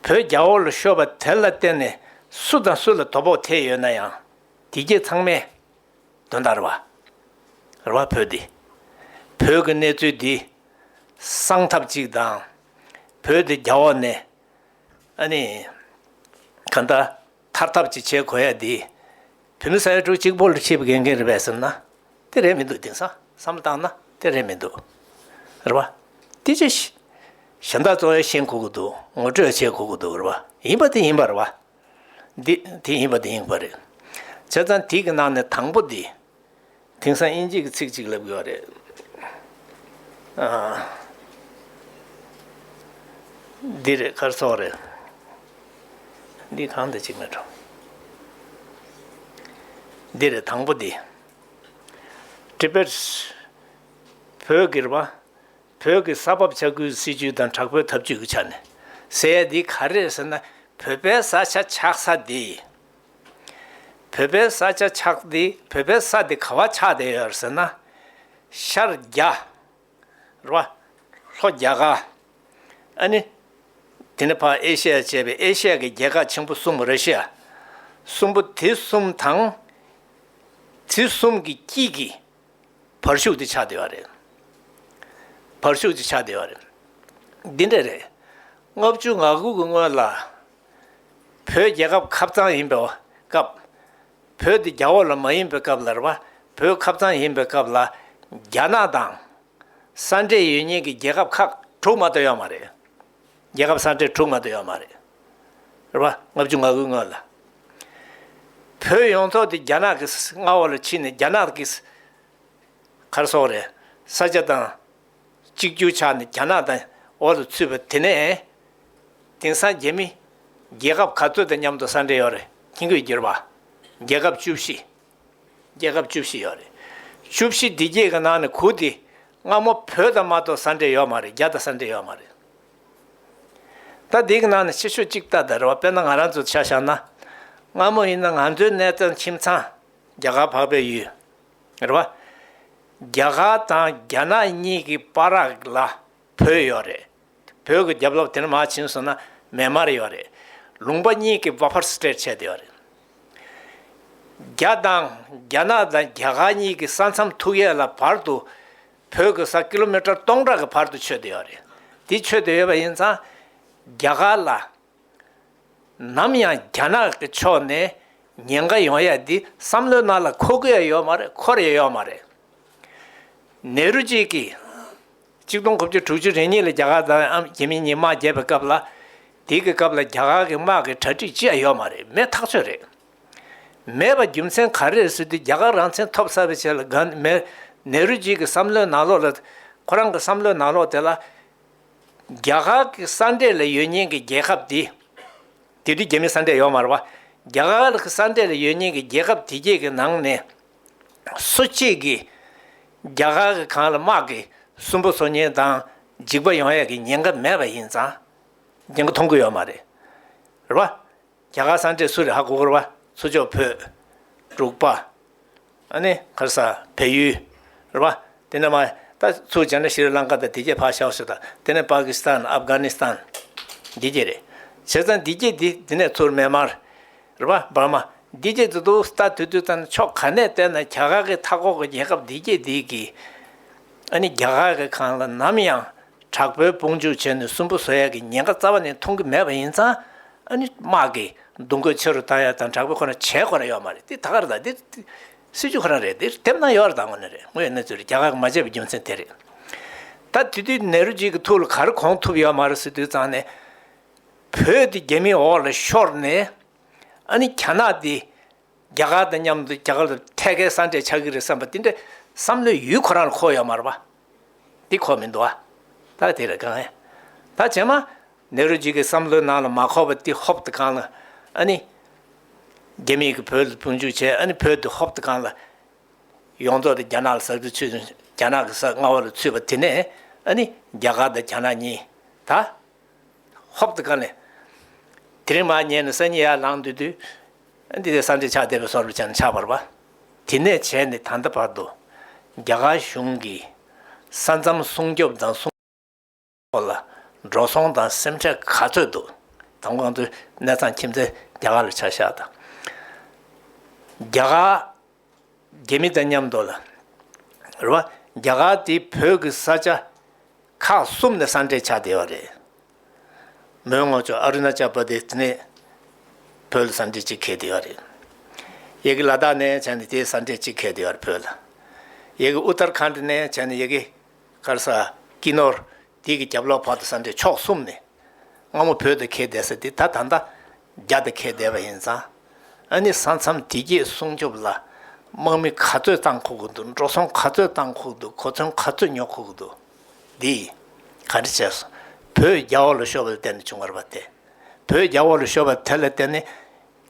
བོད་རྒྱ་ཨོ་ལོ་ཤོར་བ་དེ་ལ་བརྟེན་ནས་སུ་དང་སུ་ལ་དོ་ཕོག་ཐེབས་ཡོད་ན་ཡང་དེ་རྒྱས་ཚང་མས་དོན་དང་རེ་བ་རེ་བ་ཕུལ་ཏེ། བོད་ཀྱི་གནས་ཚུལ་འདི་སངས་ཐབས་ཅིག་དང། བོད་དེ་རྒྱ་འོག་ནས་ཨ་ནི་ག་འདྲ། མཐར་ཐབས་ཅིག་བྱེད་དགོས་ཡ་འདི། བུད་མེད་ས་ཡ་དྲུག་གཅིག་པོ་ལ་ཁྲིད་པའི་དགེ་རྒན་རེད་པས་ཟེར་ན། དེ་རེད་མི་འདུག་དེང་སང་བསམ་བཏང་ན་དེ་རེད་མི་འདུག། རེད་པ། དེ་ཅི། གཞན་དག་གཙོ་བོ་ཤེས་དགོས་ཀྱི་འདུག་ངོ་སྤྲོད་བྱེད་དགོས་ཀྱི་འདུག་རེད་པ། ཡིན་པ་དེ་ཡིན་པ་རེད་པ། འདི་དེ་ཡིན་པ་དེ་ཡིན་པ་རེད། བྱས་ཙང་དེ་གི་ནང་ནས་དང་པོ་འདི། དེང་སང་དབྱིན་ཇིག་གི་ཚིག་ཅིག་ལབ་དགོས་རེད། འདི་རེད་སྐར་ཚོགས་རེད། འདི་གང་འདི་ཅིག་མེད་འགྲོ། འདི་རེད་དང་པོ་འདི། Tibets། བོད་སྒེར་བ། བོད་ཀྱི་ས་བབ་ཆ་ཁུལ་སྲིད་ཇུས་དང་དྲག་པོའི་ཐབས་ཇུས་ཀྱི་ཆ་ནས། ཟེར་ཡ་འདི་ག་རེད་ཟེར་ན་བོད་པའི་ས་ཆ་ཆགས་ས་འདི། བོད་པའི་ས་ཆ་ཆགས་འདི་བོད་པའི་ས་དེ་ག་བ་ཆགས་བསྡད་ཡོད་ཟེར་ན། ཤར་རྒྱ། ར། ལྷོ་རྒྱ་ག། ཨ་ནི། དེ་ནི་བར་ཨེ་ཤི་ཡ་བཅས་པའི་ཨེ་ཤི་ཡ་གི་རྒྱལ་ཁག་ཆེན་པོ་གསུམ་ར་ཤི་ཡ། གསུམ་པོ་དེ་གསུམ་དང། དེ་གསུམ་གྱི་དཀྱིལ་གྱི་བར་ཤུག་དེ་ཆགས་བསྡད་པ་རེད། བར་ཤུག་དེ་ཆགས་བསྡད་པ་རེད། འདི་འདྲ་རེད། ལྔ་བཅུ་ང་དགུ་གི་སྔོན་ལ། བོད་རྒྱལ་ཁབ་ཁབ་གཙང་ཡིན་པའི་སྐབས། བོད་འདི་རྒྱ་འོག་ལ་མ་ཡིན་པའི་སྐབས་ལར་བ་བོད་ཁབ་གཙང་ཡིན་པའི་སྐབས་ལ་རྒྱ་ནག་དང། ས་འབྲེལ་ཡོད་ཉེས་ཀྱི་རྒྱལ་ཁབ་ཁག་དྲུག་མ་གཏོགས་ཡོད་མ་རེད། རྒྱལ་ཁབ་ས་འབྲེལ་དྲུག་མ་གཏོགས་ཡོད་མ་རེད། རེད་བ། ལྔ་བཅུ་ང་དགུའི་སྔོན་ལ། བོད་ཡོངས་རྫོགས་འདི་རྒྱ་ནག་གི་མངའ་འོག་ལ་ཕྱིན་ནས་རྒྱ་ནག་གི། གར་སོང་རེད། ས་ཆ་དང། གཅིག་གྱུར་ཆགས་ནས་རྒྱ་ནག་དང་འོག་ཏུ་ཚུད་པ་དེ་ནས། དེང་སང་རྒྱ་མི། རྒྱལ་ཁབ་ག་ཚོད་དང་མཉམ་དུ་ས་འབྲེལ་ཡོད་རེད་ཁྱི་འགོས་བསྒྱུར་བ། རྒྱལ་ཁབ་བཅུ་བཞི། རྒྱལ་ཁབ་བཅུ་བཞི་ཡོད་རེད། བཅུ་བཞི་བདེ་སྐྱིད་ཀྱི་ནང་ནས་གུ་དེ། སྔ་མོ་བོད་དང་མ་གཏོགས་ས་འབྲེལ་ཡོད་མ་རེད་རྒྱ་དང་ས་འབྲེལ་ཡོད་མ་རེད། ད་དེ་གི་ནང་ནས་ཕྱི་ཕྱོགས་གཅིག་ལྟ་དར་བ་དཔེར་ན་ང་རང་ཚོ་ཆ་བཞག་ན། སྔ་མོ་ཡིན་ན་ང་ཚོའི་གནས་ཚང་ཁྱིམ་ཚང། རྒྱ་གར་འཕགས་པའི་ཡུལ། རེད་བ། རྒྱ་གར་དང་རྒྱ་ནག་གཉིས་ཀྱི་པ་རག་ལ་བོད་ཡོད་རེད། བོད་ཀྱི་རྒྱབ་ལོག་དེ་ནས་མ་ཕྱིན་སོང་ན་མེ་དམར་ཡོད་རེད། ལུང་པ་གཉིས་ཀྱི་བ་ཕར་སྤྲད་བྱས་དེ་ཡོད་རེད། རྒྱ་དང་རྒྱ་ནག་དང་རྒྱ་གར་གཉིས་ཀྱི་ས་མཚམས་ཐུག་ཡས་ལ་བར་དུ་བོད་ཀྱི་ས་ཀི་ལོ་མི་ཀྲ་སྟོང་ཕྲག་གི་བར་དུ་ཆོད་དེ་ཡོད་རེད། དེ་ཆོད་དེ་ཡོད་པ་ཡིན་ཙང་རྒྱ་གར་ལ་ནམ་ཡང་རྒྱ་ནག་གི་ཕྱོགས་ནས་ཉེན་ཁ་ཡོང་ཡ་འདི་བསམ་བློའི་ནང་ལ་འཁོར་གི་ཡོད་མ་རེད་འཁོར་ཡ་ཡོད་མ་རེད། ནེ་རུ་ཇི་ཀི། གཅིག་སྟོང་དགུ་བཅུ་དྲུག་ཅུ་རེ་གཉིས་ལ་རྒྱ་གར་དང་ཨ་རྒྱ་མི་གཉིས་དམག་བརྒྱབ་པའི་སྐབས་ལ། དེ་གི་སྐབས་ལ་རྒྱ་གར་གི་དམག་གི་གྲ་སྒྲིག་ཅི་ཡ་ཡོད་མ་རེད་མེད་ཐག་ཆོད་རེད། མེད་པ་རྒྱུ་མཚན་ག་རེ་རེད་ཟེར་དུས་རྒྱ་གར་རང་མཚན་ཐོབ་ས་པའི་ཆེད་ལ་ག་ནེ་རུ་ཇི་ཀི་བསམ་བློའི་ནང་ལོག་ལ། ཁོ་རང་གི་བསམ་བློའི་ནང་ལོག་དེ་ལ། རྒྱ་གར་གྱི་ས་འབྲས་ལ་ཡོད་ཉེན་གྱི་རྒྱལ་ཁབ་དེ། དེ་དུས་རྒྱ་མི་ས་འབྲས་ཡོད་མ་རེད། རྒྱ་གར་གྱི་ས་འབྲས་ལ་ཡོད་ཉེན་གྱི་རྒྱལ་ཁབ་དེ་བརྒྱད་ཀྱི་ནང་ནས། སུ་གཅིག་གིས་རྒྱ་གར་གྱི་གངས་ལ་དམག་གིས་སུན་པོ་འཚོ་ཉེན་དང་འཇིགས་པ་ཡོང་ཡས་ཀྱི་ཉེན་ཁ་མེད་པ་ཡིན་ཙང། ཉེན་ཁ་མཐོང་གི་ཡོད་མ་རེད། རྒྱ་གར་སངས་རྒྱས་སུ་རི་ཧ་གོ་གོར་བ། སུ་མཆོག་བོད། འབྲུག་པ། ཨ་ནི། གྷར་ས། བལ་ཡུལ། རི་བ། དེ་ནས་མ། ད། ཚུར་སྦྱར་ན་ཤི་རི་ལང་ཀ་དང་དེ་རྒྱས་བྷ་ཤཱོ་སུ་དང་དེ་ནས་པཱ་ཀི་སི་ཐན་ཨབ་གྷ་ནི་སི་ཐན། འདི་རྒྱས་རེད། བྱས་ཙང་འདི་རྒྱས་འདི་དེ་ནས་ཚུར་མེན་མར། རི་བ། འབར་མ། འདི་རྒྱས་འདི་འདུག་ད་དུས་དུས་ད་ནི་ཕྱོགས་ག་ནས་བལྟས་ན་རྒྱ་གར་གི་མཐའ་འཁོར་གི་རྒྱལ་ཁབ་འདི་རྒྱས་འདི་གི། ཨ་ནི་རྒྱ་གར་གི་གང་ལ་ནམ་ཡང། དྲག་པོའི་དཔུང་འཇུག་བྱས་ནས་སུན་པོ་བཟོ་ཡག་གི་ཉེན་ཁ་རྩ་བ་ནས་མཐོང་གི་མེད་པ་ཡིན་ཙང་ཨ་ནི་དམག་གི་འདུ་འགོད་ཆེ་རུ་བཏང་ཡག་དང་དྲག་པོ་ཁོ་ན་བྱས་ཁོ་ན་ཡོག་མ་རེད་དེ་ད་ག་རེ་ད་དེ་སྲིད་ཇུས་ཁོ་ན་རེད་དེ་དེབ་ནང་ཡོག་རེ་ད་ངོ་ན་རེད་ངོ་ཡི་གནས་ཚུལ་རེད་རྒྱ་གར་གི་མ་བྱས་པའི་རྒྱུ་མཚན་དེ་རེད་ད་དེ་དུས་ནེ་རུ་ཇིས་གི་ཐུགས་ལ་ག་རེ་གོང་ཐུབ་ཡོག་མ་རེད་སྲིད་དུས་ཙང་ནས་བོད་དེ་རྒྱ་མིའི་འོག་ལ་ཤོར་ནས་ཨ་ནི་གྱ་ནག་དེ། རྒྱ་གར་དང་མཉམ་དུ་རྒྱ་གར་དུ་ཐད་ཀའི་སྲ་མཁྲེགས་ཆགས་ཀྱི་རེད་བསམ་པ་དེ་འདྲ་བསམ་བློའི་ཡུལ་ཁོ་རང་ལ་འཁོར་ཡོད་མ་རེད་པ། འདི་འཁོར་མི་འདུག་ཨ། ད་དེ་རེད་གང། ད་བྱས་མ། ནེ་རོ་ཇི་ཀའི་བསམ་བློའི་ནང་ལ་མ་འཁོར་བ་དེ་ཧོབ་ཏུ་གང་ལ། ཨ་ནི། རྒྱ་མིས་ཀྱི་བོད་ལ་དཔུང་འཇུག་བྱས་ཨ་ནི་བོད་དེ་ཧོབ་ཏུ་གང་ལ། ཡོངས་རྫོགས་དེ་རྒྱ་ནག་ལ་ཟག་རྒྱུ་ཚུད་རྒྱ་ནག་གི་ཟག་རྔ་བ་ལ་ཚུད་པ་དེ་ནས་ཨ་ནི་རྒྱ་གར་དང་རྒྱ་ནག་གཉིས་ད། ཧཱུྃ་དང་བཀའ་ནི། དེ་རིང་མ་རྙེད་ནས་སང་ཉིན་ཡར་ལངས་འདོད་དུས། འདི་ལྟར་སངས་རྒྱས་ཕྱག་འདེབས་པའི་སོར་མོ་ཅན་ནི་ཕྱག་བར་པ། དེ་ནས་བྱས་ནས་ད་ལྟ་བར་དུ། རྒྱ་གར་གཞུང་གི་ས་མཚམས་སྲུང་སྐྱོབ་དང་སྲུང། སྐོར་ལ་འགྲོ་སོང་དང་སེམས་ཁྲལ་ག་ཚོད་འདུག་དང་གོང་དུ་གནས་ཚང་ཁྱིམ་མཚེས་རྒྱ་གར་ལ་ཆ་བཞག་དང། རྒྱ་གར། རྒྱལ་མི་དང་མཉམ་འདོར་ལ། རེ་བ། རྒྱ་གར་དེ་བོད་ཀྱི་ས་ཆ། ཁག་གསུམ་ནས་ས་འབྲེལ་ཆགས་བསྡད་པ་རེད། མོན་ངོགས་ཕྱོགས་ཨ་རུ་ན་ཅལ་པ་དེ་དེ་ནས་བོད་ལ་ས་འབྲེལ་གཅིག་ཁེལ་བསྡད་པ་རེད། ཡེ་གེ་ལ་དྭགས་ནས་བྱས་ནས་དེ་ས་འབྲེལ་གཅིག་ཁེལ་བསྡད་པ་རེད་བོད་ལ། ཡེ་གེ་ཨུ་ཏར་ཁཱནྟི་ནས་བྱས་ནས་ཡེ་གེ་ཀར་ས་ཀི་ནོར་དེ་གི་རྒྱབ་ལོགས་བར་དུ་ས་འདྲེ་ཕྱོགས་གསུམ་ནས་སྔ་མོ་བོད་དུ་ཁེལ་བསྡད་ས་དེ་ད་ད་ལྟ་རྒྱ་དུ་ཁེལ་བསྡད་པ་ཡིན་ཙང། ཨ་ནི་ས་མཚམས་དེ་རྒྱས་སྲུང་སྐྱོབ་ལ་དམག་མི་ག་ཚོད་བཏང་ཁོག་གི་འདུག་འགྲོ་སོང་ག་ཚོད་བཏང་ཁོག་འདུག་གོ་མཚོན་ག་ཚོད་ཉོ་ཁོག་གི་འདུག་འདི་ཡིས་ག་འདྲི་བྱས་སོང་བོད་རྒྱ་དབར་ལ་ཤོར་བ་ལ་བརྟེན་ནས་བྱུང་བར་བ་དེ། བོད་རྒྱ་དབར་ལ་ཤོར་བ་དེ་ལ་བརྟེན་ནས།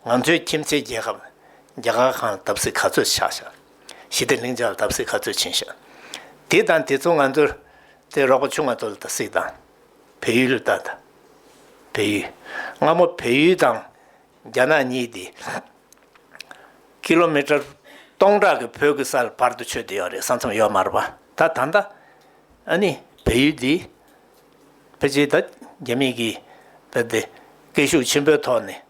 ང་ཚོའི་ཁྱིམ་མཚེས་རྒྱལ་ཁབ་རྒྱ་གར་ཁང་བརྡབ་གསིག་ག་ཚོད་ཆགས་ཤག། ཞི་བདེ་ལྷིང་འཇགས་བརྡབ་གསིག་ག་ཚོད་ཕྱིན་ཤག། དེ་དང་དེ་ཚོ་ང་ཚོར་དེ་རོགས་པ་ཆུང་ང་ཚོ་ལ་བརྡབ་གསིག་དང། བལ་ཡུལ་ལ་བརྡབ་དང། བལ་ཡུལ། སྔ་མོ་བལ་ཡུལ་དང་རྒྱ་ནག་གཉིས་དེ། ཀི་ལོ་མི་ཀྲར་སྟོང་ཕྲག་གི་བོད་ཀྱི་སར་བར་དུ་ཆོད་དེ་ཡོད་རེད་ས་མཚམས་ཡོད་མ་རེད་པ། ད་ད་ལྟ། ཨ་ནི་བལ་ཡུལ་དེ། ཕལ་ཆེར་ད་རྒྱ་མིས་ཀྱིས་བལ་དེ་སྐད་ཤུགས་ཆེན་པོའི་ཐོག་ནས།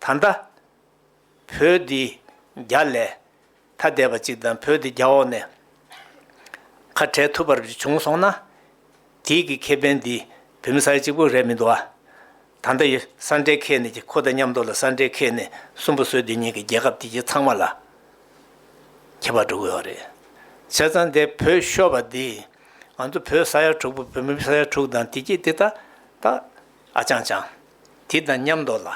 ད་ལྟ། བོད་འདི་རྒྱ་ལས་ཐ་དད་པ་ཅིག་དང་བོད་འདི་རྒྱ་འོག་ནས་ཁ་བྲལ་ཐུབ་པར་བྱུང་སོང་ན། དེའི་གི་ཁེ་ཕན་འདི་བོད་མི་ས་ཡ་གཅིག་པོ་རེད་མི་འདུག་ཨ། ད་ལྟ་ཡི་ས་འབྲེལ་ཁེལ་ནས་ཀྱི་ཁོ་དང་མཉམ་འདོར་ལ་ས་འབྲེལ་ཁེལ་ནས་སུན་པོ་བཟོས་དུས་ཉིན་གི་རྒྱལ་ཁབ་དེ་གྱི་ཚང་མ་ལ་ཁྱད་པར་འགྲོ་གི་ཡོད་རེད། བྱས་ཙང་འདས་བོད་ཤོར་བ་འདི་ང་ཚོ་བོད་ས་ཡ་དྲུག་པོ་བོད་མི་ས་ཡ་དྲུག་དང་དེ་གྱི་དེ་ད་ད་ཨ་ཅང་ཅང། དེ་དང་མཉམ་དུ་ལ་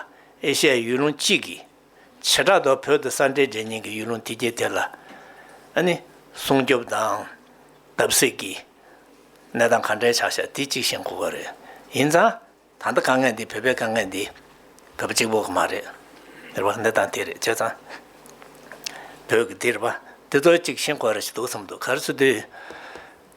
ཨེ་ཤ་ཡའི་ཡུལ་ལུང་གཅིག་གིས་བྱེ་བྲག་ཏུ་བོད་དུ་ས་འབྲེལ་འབྲེལ་ཉིན་གྱི་ཡུལ་ལུང་དེ་རྒྱལ་དེ་ལ་ནི་སྲུང་སྐྱོབ་དང། བརྡབ་གསིག་གི་གནས་སྟངས་ག་འདྲའི་ཆགས་ཤག་དེ་གཅིག་ཤེས་མཁོ་གི་རེད། ཡིན་ཙང་ད་ལྟ་དཀའ་ངལ་འདི་བོད་པའི་དཀའ་ངལ་འདི་བོད་པ་གཅིག་པོ་གི་མ་རེད། འདིར་བ་གནས་སྟངས་དེ་རེད་བྱས་ཙང། བོད་ཀྱི་འདིར་བ་འདི་ཚོ་གཅིག་ཤེས་མཁོ་རེད་ཅིག་འདུག་བསམ་འདུག་ག་རེ་ཚུལ་དུས།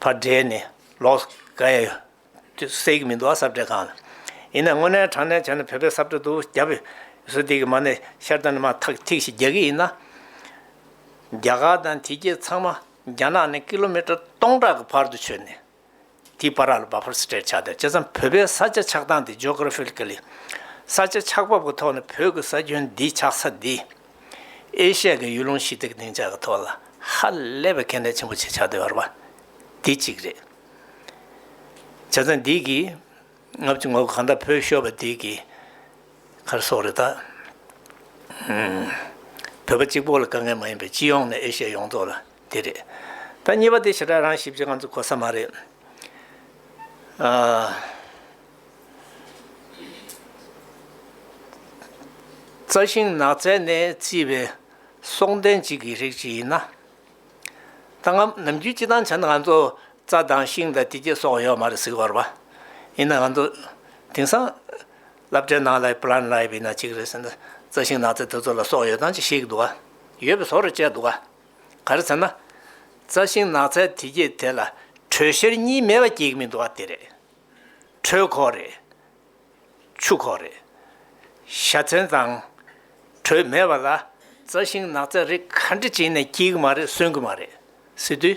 བར་འབྲེལ་ནས་ལོགས་ཀ་ཡ། སའི་གི་མི་འདུག་ཨ་སབ་སྤྲེལ་ཁང་ལ། ཡིན་ན་དངོས་གནས་དྲང་གནས་བྱས་ན་བོད་པའི་སབ་སྤྲེལ་འདུག་རྒྱ་བོད། སུ་དེ་གི་མ་ནས་ཤར་ཏང་ནི་མ་ཐག་ཐིག་ཤིག་རྒྱག་གི་ཡིན་ན། རྒྱ་གར་དང་དེ་རྒྱལ་ཚང་མ་རྒྱ་ནག་ནས་ཀི་ལོ་མི་ཀྲར་སྟོང་ཕྲག་གི་བར་དུ་ཆོད་ནས། དེའི་པ་རག་ལ་བ་ཕར་སྤྲེལ་ཆགས་སྡད་ཅེ་ཙམ་བོད་པའི་ས་ཆ་ཆགས་སྟངས་དེ Geographically། ས་ཆ་ཆགས་བབ་གི་ཐོག་ནས་བོད་གི་ས་ཁྱོན་འདི་ཆགས་ས་འདི། ཨེ་ཤ་ཡ་གི་ཡུལ་ལུང་ཞི་བདེ་གི་བདེ་འཇགས་ཀྱི་ཐོག་ལ་ཧ་ལས་པའི་ཁེ་ལས་ཆེན་པོ་ཆེ་ཆགས་འདོད་པ་དེ་གཅིག་རེད། བྱ་ཚང་འདི་གིས་ངབ་ཀྱི་ངོ་གང་འདྲ་བོས་ཤོར་བ་དེ་གི་ཁར་སོག་རེད་ད། བོད་པ་གཅིག་པོ་ལ་དཀའ་ངལ་མ་ཡིན་པའི་སྤྱི་ཡོངས་ནས་ཨེ་ཤ་ཡ་ཡོངས་རྫོགས་ལ་དེ་རེད། ད་གཉིས་པ་དེ་ཞེ་དྲག་རང་ཞིབ་བྱེད་ང་ཚོ་གོ་ས་མ་རེད། རྩྭ་ཤིང་ནགས་ཚལ་ནས་བརྩིས་པའི་སྲོག་ལྡན་གཅིག་གི་རིགས་ཅིག་ཡིན། ད་ང་ནམ་རྒྱུན་སྤྱི་དང་བྱ་ན་ང་ཚོ་རྩྭ་དང་ཤིང་དང་དེ་བཅས་སོགས་ཡོད་མ་རེད་ཟེར་བར་བ། ཡིན་ན་ང་ཚོ་དེང་སང་བསླབ་གྲྭའི་ནང་ལ Plant Life ཡིན་ན་གཅིག་རེད་ཟེར་ན་རྩྭ་ཤིང་ནགས་ཚལ་དེ་ཚོ་ལ་སྲོག་ཡོད་དམ་ཅེས་བཤད་ཀྱི་འདུག་ག་ཡོད་པའི་བཟོ་རེ་བྱས་འདུག་ག་ག་རེ་ཟེར་ན། རྩྭ་ཤིང་ནགས་ཚལ་དེ་བཅས་དེ་ལ་དྲོད་གཤེར་གཉིས་མེད་པ་སྐྱེ་གི་མི་འདུག་ག་དེ་རེད། གྲོད་ཁོག་རེད། ཆུ་ཁོག་རེད། བཞའ་ཚན་དང། དྲོད་མེད་པ་ལ། རྩྭ་ཤིང་ནགས་ཚལ་རིགས་ག་འདྲ་བྱིན་ནས་སྐྱིལ་གྱི་མ་རེད་གསོན་གྱི་མ་རེད། སི་ཏུ།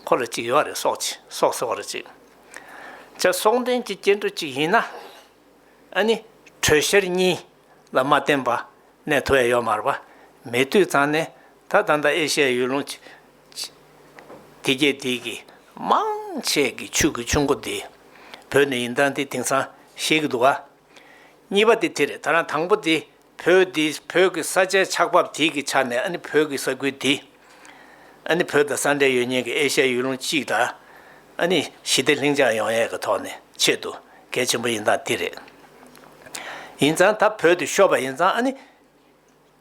ཁོ་ལ་ཅིག་ཡོད་རེད་སོགས་ཅི་སོགས་ཟེར་བ་རེད་ཅིག། ཇ་སོགས་འདྲེན་གྱི་སྐྱེ་འགྲོ་ཅིག་ཡིན་ན། ཨ་ནི། དྲོད་གཤེར་གཉིས། ལ་མ་བརྟེན་པ། གནས་ཐོ་ཡ་ཡོ་མར་བ། མེ་དུད་ཚང་ནི། ད་ད་ད་ཨེ་ཤེ་ཡ་ཡུལ་ལུང། དེ་རྒྱལ་དེའི་གི། མང། ཆེ་གི་ཆུ་གི་ཆུ་འགོ་དེ། བོད་ནི་ཡིན་དང་དེ་དེང་སང། ཤེས་གི་འདུག་ག། གཉིས་པ་དེ་དེ་རེད་ད་རང་དང་པོ་དེ། བོད་དེ་བོད་གི་ས་ཆའི་ཆགས་བབས་དེའི་གི་ཆ་ནས་ཨ་ནི་བོད་གི་ས་ཁུལ་དེ། ཨ་ནི་བོད་དང་ས་འབྲེལ་ཡོད་ཉེན་གྱི་ཨེ་ཤ་ཡའི་ཡུལ་ལུང་གཅིག་དང། ཨ་ནི་ཞི་བདེ་ལྷིང་འཇགས་ཡོང་ཡས་ཀྱི་ཐོག་ནས་ཆེད་དུ་གལ་ཆེན་པོ་ཡིན་སྟངས་དེ་རེད། ཡིན་ཙང་ད་བོད་དུ་ཤོར་བ་ཡིན་ཙང་ཨ་ནི་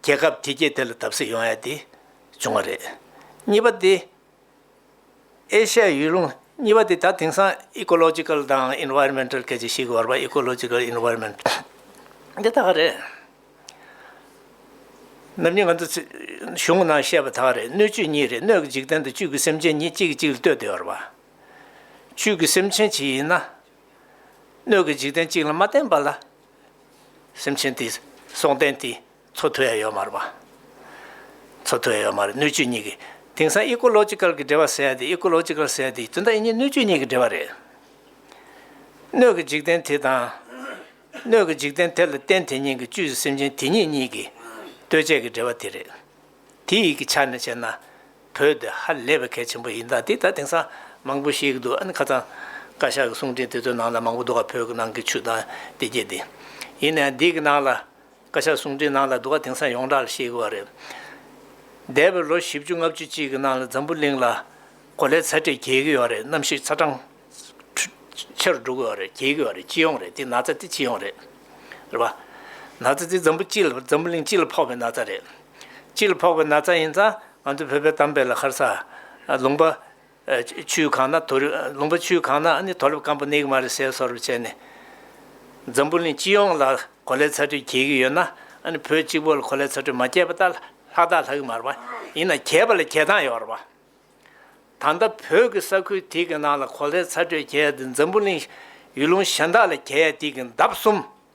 རྒྱལ་ཁབ་དེ་རྒྱལ་དེ་ལ་བརྡབ་གསིག་ཡོང་ཡས་དེ་བྱུང་བ་རེད། གཉིས་པ་དེ། ཨེ་ཤ་ཡའི་ཡུལ་ལུང་གཉིས་པ་དེ་ད་དེང་སང Ecological དང Environmental སྐད་ཆ་ཞིག་བར་པ Ecological Environmental འདི་དག་རེད། ནམ་རྒྱུན་ང་ཚོ་གཞུང་ནང་བཤད་པ་དག་རེད་སྣོད་བཅུད་གཉིས་རེད་སྣོད་ཀྱི་འཇིག་རྟེན་དུ་བཅུད་ཀྱི་སེམས་ཅན་གཉིས་གཅིག་གིས་གཅིག་ལ་ལྟོས་ཏེ་བར་པ། བཅུད་ཀྱི་སེམས་ཅན་གཅིག་ཡིན་ན། སྣོད་ཀྱི་འཇིག་རྟེན་གཅིག་ལ་མ་བརྟེན་པ་ལ། སེམས་ཅན་དེ་སྲོང་བརྟེན་དེ། མཚོ་ཐོ་ཡ་ཡོ་མར་བ། མཚོ་ཐོ་ཡ་ཡོ་མར་སྣོད་བཅུད་གཉིས་ཀྱི་དེང་སང Ecological གྱི་འབྲེལ་བ་ཟེར་ཡ་དེ Ecological ཟེར་ཡ་དེ་དོན་དག་ཡིན་གཉིས་སྣོད་བཅུད་གཉིས་ཀྱི་འབྲེལ་བ་རེད། སྣོད་ཀྱི་འཇིག་རྟེན་དེ་དང། སྣོད་ཀྱི་འཇིག་རྟེན་དེ་ལ་རྟེན་དེ་ཉིད་ཀྱི་བཅུད་ཀྱི་སེམས་ཅན་དེ་ཉིད་གཉིས་ཀྱི་ལྟོས་བཅས་ཀྱི་འབྲེལ་བ་དེ་རེད། དེ་ཡིག་གི་ཆ་ནས་བཤད་ན་བོད་དེ་ཧ་ལས་པའི་གལ་ཆེན་པོ་ཡིན་ད་དེ་ད་དེང་སང་མང་པོ་ཤེས་ཀྱི་འདུག་ཨ་ནི་ཁ་ཚང་བཀའ་ཤག་གི་གསུང་འཕྲིན་དེ་ཚོའི་ནང་ལ་མང་པོ་འདུག་ག་བོད་ཀྱི་ནང་གི་ཆུ་དང་དེ་རྒྱས་དེ། ཡིན་ནའང་འདི་གི་ནང་ལ་བཀའ་ཤག་གསུང་འཕྲིན་ནང་ལ་འདུག་ག་དེང་སང་ཡོངས་གྲགས་ལ་ཤེས་གི་བ་རེད། འདས་པའི་ལོ་བཞི་བཅུ་ལྔ་བཅུ་གཅིག་གི་ནང་ལ་འཛམ་བུ་གླིང་ལ་གོ་ལའི་ཚ་དྲེག་རྒྱས་གི་བ་རེད་གནམ་གཤིས་ཚ་གྲང། ཆེ་རུ་འགྲོ་གི་བ་རེད་རྒྱས་གི་བ་རེད་སྤྱི་ཡོངས་རེད་དེ་ན་ཚ་དེ་སྤྱི་ཡོངས་རེད། རེད་པ། ན་ཚ་དེ་འཛམ་བུ་སྤྱི་ལ་འཛམ་བུ་གླིང་སྤྱི་ལ་ཕོག་པའི་ན་ཚ་རེད། སྤྱི་ལ་ཕོག་པའི་ན་ཚ་ཡིན་ཙང་ང་ཚོ་བོད་པའི་གཏམ་དཔེ་ལ་ཁར་ས། ལུང་པ། ཆུའི་ཁང་ན་དོ་རུབ། ལུང་པ་ཆུའི་ཁང་ན་ནི་དོ་རུབ་སྐམ་པོ་ནེག་མ་རི་སེལ་སོགས་རུབ་བྱས་ནས། འཛམ་བུ་གླིང་སྤྱི་ཡོངས་ལ་གོ་ལའི་ཚ་དྲོད་གྱེས་ཀྱི་ཡོད་ན། བོད་གཅིག་པོ་ལ་གོ་ལའི་ཚ་དྲོད་མ་སྐྱེས་པ་ལྟར་ལྷག་དང་ལྷག་གི་མར་བ། ཡིན་ན་གྱེས་པ་ལ་གྱེས་སྟངས་ཡོད་རེད་བ། ད་ལྟ་བོད་ཀྱི་ས་ཁུལ་དེ་གི་ནང་ལ་གོ་ལའི་ཚ་དྲོད་གྱེས་ཏེ་འཛམ་བུ་གླིང་ཡུལ་ལུང་གཞན་དག་ལ་གྱེས་ཡ་དེ་གི་འདབ་གསུམ་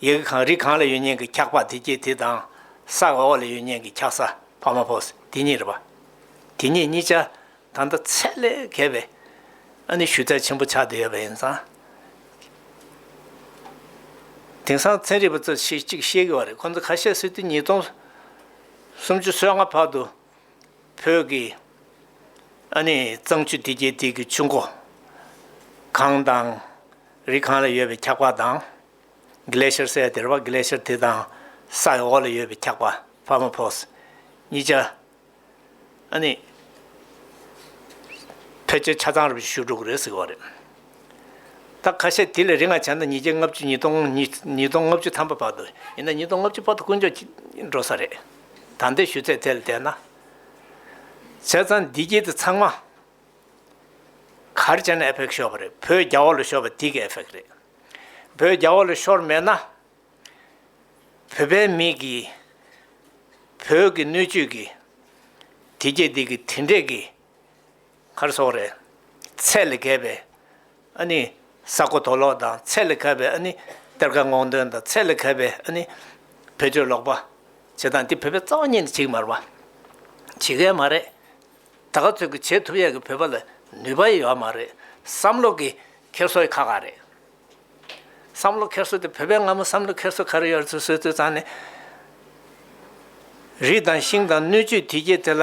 ཡི་གེ་གང་རིགས་གང་ལ་ཡོད་སྙིང་གི་འཁྱགས་པ་དེ་སྐྱེས་དེ་དང། ས་ག་འོག་ལ་ཡོད་སྙིང་གི་འཁྱགས་ས་ཕ་མ་ཕོ་དེ་གཉིས་རེད་པ། དེ་གཉིས་གཉིས་ཆ་ད་ལྟ་ཚད་ལས་བརྒལ་བས། ཨ་ནི་ཞུ་ཚད་ཆེན་པོ་ཆགས་བསྡད་ཡོད་པ་ཡིན་ཙང། དེང་སང་ཚན་རིག་པ་ཚོས་ཆེས་གཅིག་ཤེས་གི་བ་རེད་ཁོང་ཚོ་ཁ་ཤས་སི་ཏུ་ཉིས་སྟོང་སུམ་ཅུ་སོ་ལྔ་བར་དུ་བོད་ཀྱི་ཨ་ནི་གཙང་ཆུ་འདི་རྒྱལ་སྟེགས་ཀྱི་ཆུ་མགོ། གངས་དང། རི་གངས་ལ་ཡོད་པའི་འཁྱགས་པ་དང། Glacier སའི་སྡེར་བ Glacier དེ་དང་སའི་འོག་ལ་ཡོད་པའི་འཁྱགས་པ Permafrost གཉིས་ཆ། ཨ་ནི། ཕལ་ཆེར་ཆ་ཚང་རེད་བཞི་ཤུག་དྲུག་རེད་ཟེར་གི་བ་རེད། ད་ཁ་ཤས་དེ་ལས་རེ་ལྔ་བྱས་ན་ཉིས་བརྒྱ་ལྔ་བཅུ་ཉིས་སྟོང་ཉིས་སྟོང་ལྔ་བཅུ་ཐམ་པ་བར་དུ་ཡིན་ན་ཉིས་སྟོང་ལྔ་བཅུ་བར་དུ་དཀོན་མཆོག་འགྲོ་ས་རེད། ད་ལྟའི་ཞུ་ཚད་དེ་ལ་བལྟས་ན། བྱས་ཙང་འདི་དཀྱིལ་དུ་ཚང་མ། གར་བྱས་ན་ཨེ་ཕེག་ཤོར་བ་རེད་བོད་རྒྱ་བོད་ལ་ཤོར་བ་དེ་གི་ཨེ་ཕེག་རེད། བོད་རྒྱ་བོད་ལ་ཤོར་མེད་ན། བོད་པའི་མི་གིས། བོད་ཀྱི་སྣོད་བཅུད་ཀྱི། དེ་སྐྱེས་དེ་གི་དེ་འདྲས་ཀྱི། མཁར་སོགས་རེད། ཚད་ལས་བརྒལ་བའི་ཨ་ནི་ས་རྐོ་དོ་ལོག་དང་ཚད་ལས་བརྒལ་བའི་ཨ་ནི་གཏེར་ཁ་སྔོག་འདོན་དང་ཚད་ལས་བརྒལ་བའི་ཨ་ནི་བེད་སྤྱོད་ལོག་པ་བྱེད་སྟངས་འདི་བོད་པའི་རྩ་བ་ཉིད་ནས་བྱེད་ཀྱི་མ་རེད་པ། བྱེད་མཁན་མ་རེད། ད་ག་ཚོད་ཀྱི་བྱེད་ཐུབ་ཡག་གི་བོད་པ་ལ་ནུས་པ་ཡོད་མ་རེད་བསམ་བློ་གི་འཁྱེར་བཟོ་ཡི་ཁ་ག་རེད། བསམ་བློ་འཁྱེར་བཟོ་དེ་བོད་པའི་སྔ་མོ་བསམ་བློ་འཁྱེར་བཟོ་ག་རེ་ཡོད་རེད་ཚུལ་སོད་ཚུལ་ཙང་ནས། རིགས་དང་ཤིང་དང་སྣོད་བཅུད་དུས་བརྒྱད་དེ་ལ་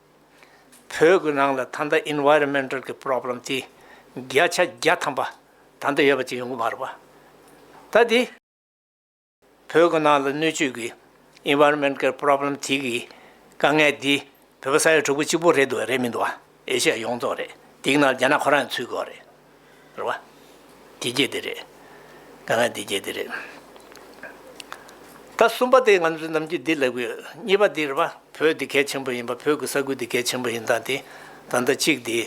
བོད་ཀྱི་ནང་ལ་ད་ལྟ Environmental གྱི Problem དེ་བརྒྱ་ཆ་བརྒྱ་ཐམ་པ་ད་ལྟ་ཡོད་པ་དེ་ཡོང་གི་མ་རེད་པ། ད་དེ་བོད་ཀྱི་ནང་ལ་སྣོད་བཅུད་ཀྱི Environment གྱི Problem དེ་གི་དཀའ་ངལ་དེ་བོད་པ་ས་ཡ་དྲུག་པོ་གཅིག་པོ་རེད་འདུག་རེད་མི་འདུག་ཨེ་ཤེ་ཡ་ཡོངས་རྫོགས་རེད་དེ་གི་ནང་ལ་རྒྱ་ནག་ཁོ་རང་ཡང་ཚུད་དགོས་རེད། རེད་བ། དེ་རྒྱས་དེ་རེད། ད་ང་དེ་རྒྱས་དེ་རེད། ད་གསུམ་པ་དེ་ང་ཚོས་ནམ་རྒྱུན་འདི་ལབ་གི་ཡོད། གཉིས་པ་འདི་རེད་བ། བོད་འདི་གལ་ཆེན་པོ་ཡིན་པ་བོད་ཀྱི་ས་ཁུལ་འདི་གལ་ཆེན་པོ་ཡིན་སྟངས་དེ་ད་ལྟ་གཅིག་དེ།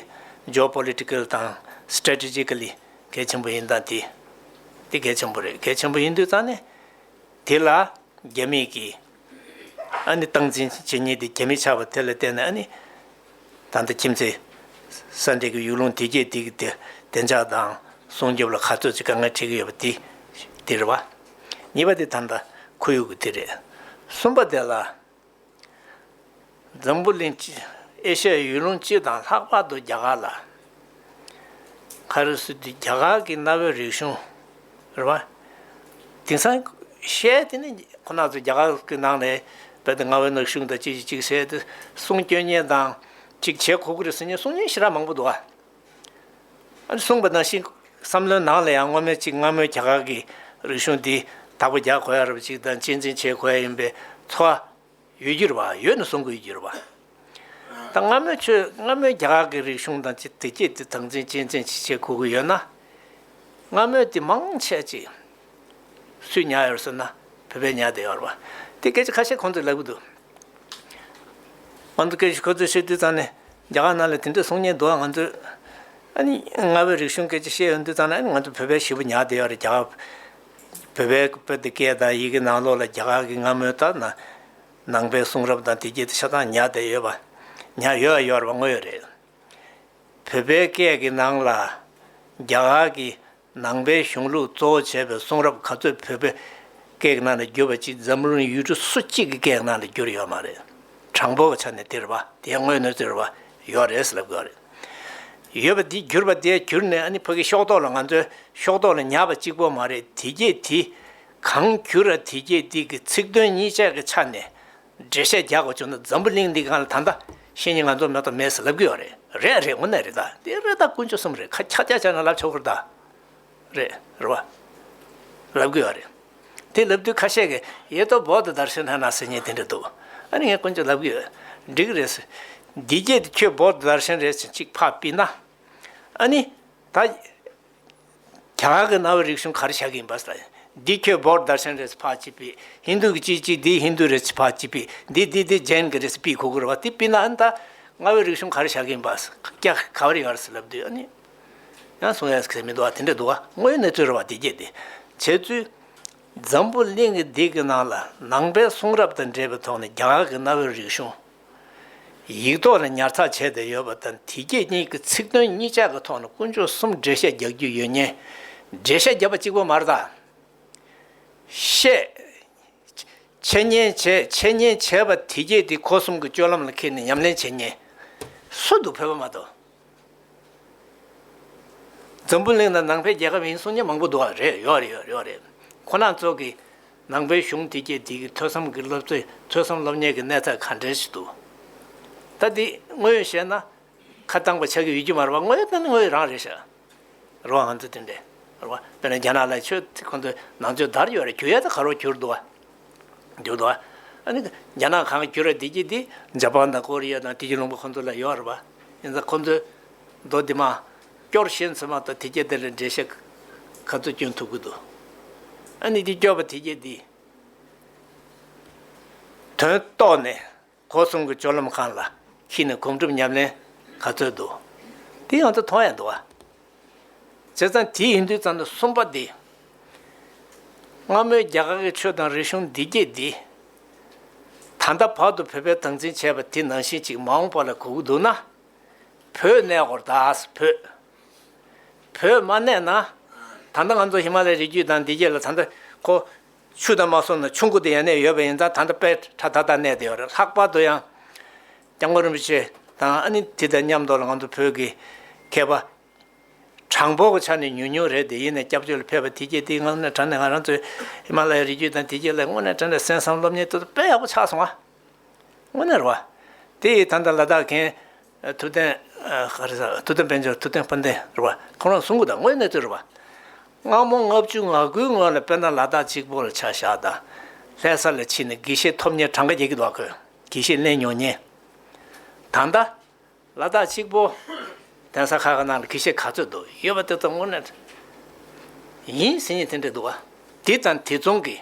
Geopolitical དང Strategically གལ་ཆེན་པོ་ཡིན་སྟངས་དེ། དེ་གལ་ཆེན་པོ་རེད་གལ་ཆེན་པོ་ཡིན་དུས་ཙང་ནས། དེ་ལ་རྒྱ་མིས་ཀྱིས། ཨ་ནི་སྟངས་འཛིན་བྱེད་ཉེས་དེ་རྒྱ་མི་ཆགས་པ་དེ་ལ་བརྟེན་ནས་ཨ་ནི། ད་ལྟ་ཁྱིམ་མཚེས། ས་འབྲེལ་གྱི་ཡུལ་ལུང་དེ་རྒྱས་འདེགས་ཀྱི་བདེ་འཇགས་དང་སྲུང་སྐྱོབ་ལ་ག་ཚོད་ཅིག་དཀའ་ངལ་འཕྲད་ཀྱི་ཡོད་པ་དེ་དེ་རེད། གཉིས་པ་དེ་ད་ལྟ་ཁོར་ཡུག་གི་དེ་རེད། གསུམ་པ་དེ་ལ། འཛམ་བུ་གླིང་སྤྱི། ཨེ་ཤ་ཡའི་ཡུལ་ལུང་སྤྱི་དང་ལྷག་པར་དུ་རྒྱ་གར་ལ། ཁ་རུ་སི་ཏི་རྒྱ་གར་གྱི་གནའ་བོའི་རིག་གཞུང། རེད་བ། དེང་སང། བཤད་དེ་ནི་ཁོ་ན་ཚོ་རྒྱ་གར་གྱི་ནང་ནས་བོད་གནའ་བོའི་ནག་གཞུང་དང་ཅི་ཞིག་ཅིག་བཤད་དེ་གསུང་སྐྱོན་ཉན་དང། ཅིག་བྱེད་ཁོ་ཁུ་རུ་སི་ནི་གསུང་སྙན་ཞེ་དྲག་མང་པོ་འདུག་ཨ། ཨ་རི་གསུང་པ་ནང་བཞིན་བསམ་བློའི་ནང་ལ་ཡང་སྔོན་མེད་ཅིག་སྔ་མོའི་རྒྱ་གར་གྱི་རིག་གཞུང་འདི་དག་པོ་རྒྱག་དགོས་ཡ་རབས་ཅིག་དང་གཅེས་འཛིན་བྱེད་དགོས་ཡ་ཡིན་པའི་ཚོ། ཡོད་རྒྱུར་བ་ཡོད་ནས་བཟུང་དགོས་རྒྱུར་བ། ད་སྔ་མོའི་ཆོས་སྔ་མོའི་རྒྱ་གར་གྱི་རིག་གཞུང་དང་སྤྱི་བདེ་སྐྱེད་བསྟི་དང་ཚན་ཆེན་ཚན་ཆེ་བྱེད་དགོས་ཀྱི་ཡོད་ན། སྔ་མོའི་དེ་མང་ཆད་ཅིག། སུས་ཉར་ཡོད་ཟེར་ན་བོད་པས་ཉར་བསྡད་ཡོད་བ། དེ་སྐད་ཅིག་ཁ་ཤས་ཁོང་ཚོས་ལབ་ཀྱི་འདུག། ང་ཚོ་སྐད་ཤུགས་ཁོ་ཚོས་བཤད་དུས་ཙང་ནས་རྒྱ་གར་ནང་ལ་དེ་འདྲའི་གསུང་ཉན་འདུག་ང་ཚོས། ཨ་ནི་སྔ་བའི་རིག་གཞུང་སྐད་ཅིག་བཤད་ཡོད་འདུག་ཙང་ནས་ཨ་ནི་ང་ཚོ་བོད་པའི་བྱིས་པ་ཉར་བསྡད་ཡོད་རེད་རྒྱ་གར། བོད་པའི་སྐད་དང་ཡི་གེ་ནང་ལོགས་ལ་རྒྱ་གར་གྱི་ང་སྨོས་ལྟར་ན། ནང་པའི་གསུང་རབ་དང་དེ་བརྒྱུད་དུ་ཆ་ཚང་ཉར་བསྡད་ཡོད་པ། ཉར་ཡོད་ཡོད་པ་དངོས་རེད། བོད་པའི་སྐད་ཀྱི་ནང་ལ། རྒྱ་གར་གྱི་ནང་པའི་གཞུང་ལུགས་གཙོ་བོ་བྱས་པའི་གསུང་རབ་ག་ཚོད་བོད་པའི་སྐད་ཀྱི་ནང་ལ་བསྒྱུར་བ་ཅིག་འཛམ་གླིང་ཡུལ་གྲུ་སོ་གཅིག་གི་སྐད་ཀྱི་ནང་ལ་བསྒྱུར་ཡོད་མ་རེད། དྲང་པོའི་ཆ་ནས་དེ་རེད་པ། དེའི་དངོས་གནས་རྩོད་རེད་པ། ཡོད་རེད་ཟེར་ལབ་དགོས་རེད། ཡོད་པ་འདི་གྱུར་པ་དེ་གྱུར་ནས་ནི་ཕ་གི་ཤོག་ཏོག་ལ་ང་ཚོའི་ཤོག་ཏོག་ལ་ཉར་བ་གཅིག་པོ་མ་རེད་དེ་རྒྱས་འདི། གང་གྱུར་ར་དེ་རྒྱས་འདི་གི་ཚིག་དོན་གཉིས་ཆ་གི་ཆ་ནས་འགྲེལ་བཤད་རྒྱག་དགོས་བྱུང་ན་འཛམ་བུ་གླིང་འདི་གང་ལ་ད་ལྟ་ཤེས་ཉེ་ང་ཚོར་མེད་དོ་མེད་ཟེར་ལབ་གི་ཡོད་རེད་རེད་རེད་ངོ་ནས་རེད་ད་འདི་རེད་ད་ཀུན་སྤྱོད་གསུམ་རེད་ཁ་ཁྱག་ཁྱག་བྱས་ན་ལབ་ཆོག་གི་རེད་ད། རེད། རེད་བ། ལབ་དགོས་བ་རེད། དེ་ལབ་དུས་ཁ་ཤས་ཀྱི་ཡེ་ཏོ་བོག་ཏུ་དར་ཤོ་ན་ན་ཟེར་ཉེས་དེ་འདྲ་འདུག་ཨ་རེ་ངས་དཀོན་མཆོག་ལབ་གི་ཡོད། འགྲིག་གི་རེད་ཟེར། འདི་རྒྱས་དེ་ཁྱོད་བོག་ཏུ་དར་ཤན་རེད་ཟེར་གཅིག་ཕ་པི་ན། ཨ་ནི། ད། གྱ་ག་གི་ན་བའི་རིག་གཞུང་ག་རེ་བྱ་གི་ཡིན་པ་ཟེར། འདི་ཁྱོད་བོག་ཏུ་དར་ཤན་རེད་ཟེར་ཕ་གཅིག་པི། ཧིན་དུ་གི་གཅིག་གཅིག་འདི་ཧིན་དུ་རེད་ཟེར་ཕ་གཅིག་པི། འདི་འདི་འདི་ཇེན་གི་རེད་ཟེར་པི་གུ་གུ་རེད་བ་དེ་པི་ན་ཨ་ནི་ད། རྔ་བའི་རིག་གཞུང་ག་རེ་བྱ་གི་ཡིན་པ་ཟེར། གྱ་ག་ག་བ་རེ་ཡོད་རེད་ཟེར་ལབ་དུས་ཨ་ནི། སོང་ཡང་ཟད་མི་འདུག་དེ་འདྲའི་འདུག་དངོས་ཡོད་གནས་ཚུལ་རེད་བ་དེ་རྒྱས་འདེད་བྱས་ཚུལ། འཛམ་བུ་གླིང་གི་དེ་གི་ནང་ལ་ནང་པའི་གསུང་རབ་དང་འབྲེལ་བའི་ཐོག་ནས་རྒྱ་གར་གྱི་གནའ་བོའི་རིག་གཞུང་ཡིག་ཐོག་ནས་ཉར་ཚགས་བྱས་ཏེ་ཡོད་པ་དང་དེ་རྒྱས་གཉིས་ཀྱི་ཚིག་དོན་གཉིས་ཆ་གི་ཐོག་ནས་དཀོན་མཆོག་གསུམ་འགྲེལ་བཤད་རྒྱག་རྒྱུ་ཡོད་ཉེན། འགྲེལ་བཤད་བརྒྱབ་པ་གཅིག་པོ་མ་རེད་དམ། བཤད། འཆད་ཉན་བྱས་འཆད་ཉན་བྱས་པ་དེ་རྒྱས་དེ་གོ་གསུམ་གྱི་སྤྱོད་ལམ་ལ་འཁེལ་ནས་ཉམས་ལེན་བྱེད་ཉེན། སུ་འདུག་བོད་པ་མ་གཏོགས། འཛམ་བུ་གླིང་ན་ནང་པའི་རྒྱལ་ཁབ་ཡིན་གསུང་མཁན་མང་པོ་འདུག་ཨ་རེད་ཡོད་རེད་ཡོད་རེད་ཁོ་ནག་ཚོགས་ཀྱིས་ནང་པའི་གཞུང་དེ་རྒྱལ་སྡིག་གི་ཐོས་བསམ་གྱི་སློབ་གཙོས་ཐོས་བསམ་སློབ་གཉེར་གྱི་གནས་ཚད་ག་འདྲའི་ཞིག་འདུག་ད་འདི་དངོས་ཡོད་བཤད་ན་ཁ་བཏང་པ་ཆགས་ཀྱི་ཡོད་རྒྱུ་མ་རེད་པ་དངོས་ཡོད་དེ་དངོས་ཡོད་རང་རེད་ཤག་རེད་བ་ང་ཚོ་དེ་འདྲའི་རེད་བ་དཔེར་ན་རྒྱ་ནག་ལ་ཆོས་དེ་ཁོ་ཚོས་ནང་ཆོས་དར་ཡོད་རེད་གྱུར་ཡོད་དེ་ག་རོགས་གྱུར་འདུག་བ། འདུག་ཨ་ནི་རྒྱ་ནག་གང་བསྐྱུར་བ་དེ་གྱིས་དེ་འཇའ་པང་དང་ཀོ་རི་ཡ་དང་དེ་གྱི་རླུང་བུ་ཁོ་ཚོ་ལ་ཡོད་རེད་པ། ཡིན་ཙང་ཁོ་ཚོས་རྡོ་དེ་མ་བསྐྱོར་ཤེས་ཚོད་མ་ཐག་དེ་གྱིས་དེ་ལ་འགྲེལ་བཤད་ག་ཚོད་བསྐྱོན་ཐུབ་ཀྱི་འདུག་ཨ་ནི་དེ་བསྐྱོར་བ་དེ་གྱིས་དེ་དོན་རྟོགས་ནས། གོ་གསུམ་གྱི་སྤྱོད་ལམ་གང་ལ་ཁྱིས་ནས་གོམས་གྲུབ་ཉམས་ལེན་ག་ཚོད་འདུག་དེ་ཡང་དུ་ཐོང་ཡ་འདུག་བྱས་ཙང་དེ་ཡིན་དུས་ཙང་དུ་གསུམ་པ་འདི་སྔ་མོའི་རྒྱ་གར་གྱི་ཆོས་དང་རིག་གཞུང་འདི་སྐད་འདི་ད་ལྟ་བར་དུ་བོད་པས་དམ་འཛིན་བྱས་པ་དེ་ནང་བཞིན་ཅིག་མ་འོངས་པ་ལ་གོ་གི་འདུག་ན་བོད་གནས་སྐོར་དྭགས་བོད་བོད་མ་གནས་ན་ད་ལྟ་ང་ཚོ་ཧི་མ་ལའི་རི་རྒྱུད་དང་འདི་སྐད་ལ་ད་ལྟ་ཁོ། ཆུ་དང་མ་སོང་ན་ཆུ་མགོ་དེ་ཡང་གནས་ཡོད་པ་ཡིན་ཙང་ད་ལྟ་དཔལ་ཁྲ་ད་དར་གནས་བསྡད་ཡོད་རེད་ལྷག་པར་དུ་ཡང་སྐྱབས་མགོན་རིན་པོ་ཆེ་དང་ཨ་ནི་དེ་དང་མཉམ་དུ་ལ་ང་ཚོ་བོད་ཀྱི་མཁས་པ་གྲངས་འབོར་གྱི་ཆ་ནས་ཉུང་ཉུང་རེད་དེ་ཡིན་ནས་སྐྱབས་བཅོལ་ལ་ཕེབས་པ་དེ་རྗེས་དེའི་ངང་ནས་དྲན་ནས་ང་རང་ཚོའི་ཧི་མ་ལ་ཡའི་རི་རྒྱུད་དང་དེ་རྗེས་ལ་དངོས་གནས་དྲན་ནས་གསན་བསམ་སློབ་གཉེར་དུ་དཔལ་ཡག་པོ་ཆགས་སོང་ཨ། སྔོན་ནས་རོལ་བ། དེ་ཡི་དམ་དང་ལ་དྭགས་མཁན། ཐུབ་བསྟན། ཧ་རི་ས། ཐུབ་བསྟན་དཔལ་འབྱོར་ཐུབ་བསྟན་དཔལ་ལྡན་རོལ་བ། ཁོང་རང་གཟུངས་སྐུ་དང་དངོས་གནས་རྩོད་རོལ་བ། སྔ་མོ་ལྔ་བཅུ་ང་དགུའི་སྔོན་ལ་དཔལ་དང་ལ་དྭགས་གཅིག་པོ་ལ་ཆ་བཞག་དང། ལྷའི་ས་ལ་ཕྱིན་ནས་དགེ་བཤེས་ཐོབ་ཉེར་གྲངས་ཀ་བརྒྱད་ཀྱི་དོགས་ཀྱི་དགེ་བཤེས་གླན་ཉོ་ཉེ། དང་ད། ལ་དྭགས་གཅིག་པོ། གདན་ས་ཁག་གི་ནང་ལ་དགེ་བཤེས་ག་ཚོད་འདུག་ཡོད་པ་དེ་ཚོ་དངོས་གནས། ཡིན་ཟེར་ཉེ་དེ་འདྲས་འདུག་བ། དེ་དང་དེ་མཚུངས་ཀྱི།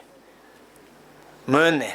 མོན་ནས།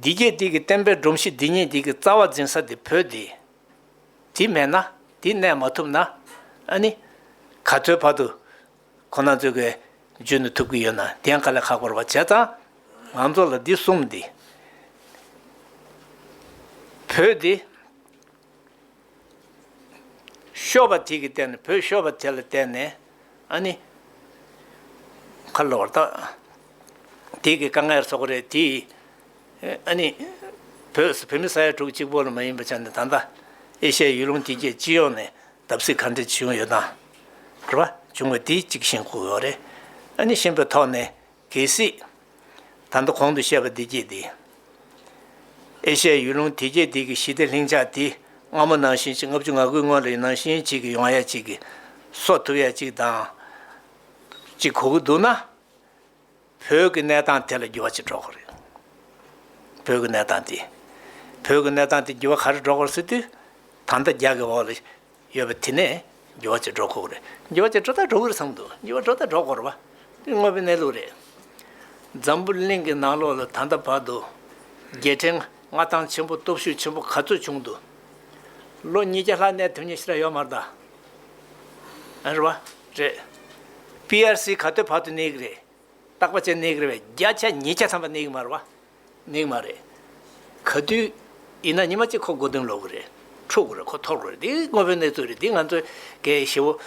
འདི་སྐད་དིག་གི་བསྟན་པའི་སྒྲོམ་གཞི་འདི་ཉིད་དིག་གི་རྩ་བ་འཛིན་ས་འདི་བོད་འདི། འདི་མེད་ན་འདི་གནས་མ་ཐུབ་ན་ཨཱ་ནི། ག་ཚོད་བར་དུ་ཁོ་ན་ཚོད་ཀྱི་རྗོད་ནི་ཐུབ་ཀྱི་ཡོད་ན་དན་ག་ལས་ཁག་པར་བ་བྱས་ཙང་ང་ཚོ་ལ་འདི་གསུམ་འདི། བོད་འདི། ཤོ་བ་དེ་གི་བརྟེན་ནས་བོད་ཤོ་བ་དེ་ལ་བརྟེན་ནས་ཨ་ནི། ཁ་ལོ་བར་ཐག་དེ་གི་དཀའ་ངལ་སོགས་རེད་དེ། ཨ་ནི། བོད་སུ་བོད་མི་ས་ཡ་དྲུག་གཅིག་པོ་ལ་མ་ཡིན་པ་ཆགས་ནས་ད་ལྟ། ཨེ་ཤ་ཡའི་ཡུལ་ལུང་དེ་གའི་སྤྱི་ཡོངས་ནས་བརྡབ་གསིག་ག་འདྲ་བྱུང་ཡོད་དམ། རེད་བ། བྱུང་བ་དེ་གཅིག་ཤེས་དགོས་རེད། ཨ་ནི་ཤེས་པའི་ཐོག་ནས། གལ་སྲིད། ད་ལྟ་གོང་དུ་བཤད་པ་འདི་བརྒྱད་དེ། ཨེ་ཤ་ཡའི་ཡུལ་ལུང་དེ་བརྒྱད་དེ་གི་ཞི་བདེ་ལྷིང་འཇགས་དེ་སྔ་མོ་ནང་བཞིན་གཅིག་ལྔ་བཅུ་ང་དགུའི་སྔོན་ལ་ཡི་ནང་བཞིན་གཅིག་གི་ཡོང་ཡ་གཅིག་གི་སོ་ཐུབ་ཡ་གཅིག་དང་གཅིག་གོ་གི་འདུག་ན། བོད་ཀྱི་གནས་སྟངས་དེ་ལ་འགྱུར་བ་ཅིག་འགྲོ་གི་རེད། བོད་ཀྱི་གནས་སྟངས་དེ། བོད་ཀྱི་གནས་སྟངས་དེ་འགྱུར་བ་ག་རེ་འགྲོ་གི་རེད་ཟེར་དུས། ད་ལྟ་རྒྱ་གི་འོག་ལ། ཡོད་པ་དེ་ནས་འགྱུར་བ་བྱེད་སྒྲོ་ཁོག་རེད། འགྱུར་བ་བྱེད་སྒྲོ་དང་སྒྲོ་གུར་ཚང་འདུག་འགྱུར་བ་སྒྲོ་དང་སྒྲོ་སྐོར་བ། འདི་དངོས་པོའི་གནས་ལུགས་རེད། འཛམ་བུ་གླིང་གི་ནང་ལོགས་ལ་ད་ལྟ་བར་དུ། རྒྱལ་ཕྲན་མངའ་ཐང་ཆེན་པོ་སྟོབས་ཤུགས་ཆེན་པོ་ག་ཚོད་བྱུང་འདུག། ལོ་ཉིས་བརྒྱ་ལྷག་གནས་ཐུབ་ཉེན་ཤི་ར་ཡོད་མ་རེད། རེད་པ། རེད། PRC ག་དུས་བར་དུ་གནས་གི་རེད། བརྟག་པ་བྱས་གནས་གི་རེད་བས་བརྒྱ་ཆ་ཉིས་བརྒྱ་ཐམ་པ་གནས་གི་མ་རེད་པ། ནིང་མ་རེད། ག་དུས་ཡིན་ན་ཉི་མ་གཅིག་ཁོ་སྒོ་བསྟེན་ལོག་གི་རེད། ཕྲུག་གུ་རེད་ཁོ་ཐོར་གི་རེད་འདི་དངོས་པོའི་གནས་ཚུལ་རེད་འདི་ང་ཚོའི་གའི་བྱེད་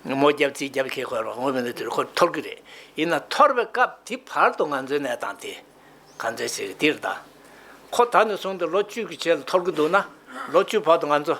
པོ། མོ་རྒྱབ་རྩིས་རྒྱབ་ཁེལ་ཁོ་ཡོད་པ་དངོས་པོའི་གནས་ཚུལ་རེད་ཁོ་ཐོར་གི་རེད། ཡིན་ན་ཐོར་བའི་སྐབས་དེ་བར་དུ་ང་ཚོའི་གནས་སྟངས་དེ་ག་ཚོད་བྱེད་གི་འདིར་བདག་ཁོ་ད་ནས་བཟུང་སྟེ་ལོ་བཅུ་གི་ཆེད་ལ་ཐོར་གི་འདུག་ན་ལོ་བཅུ་བར་དུ་ང་ཚོ།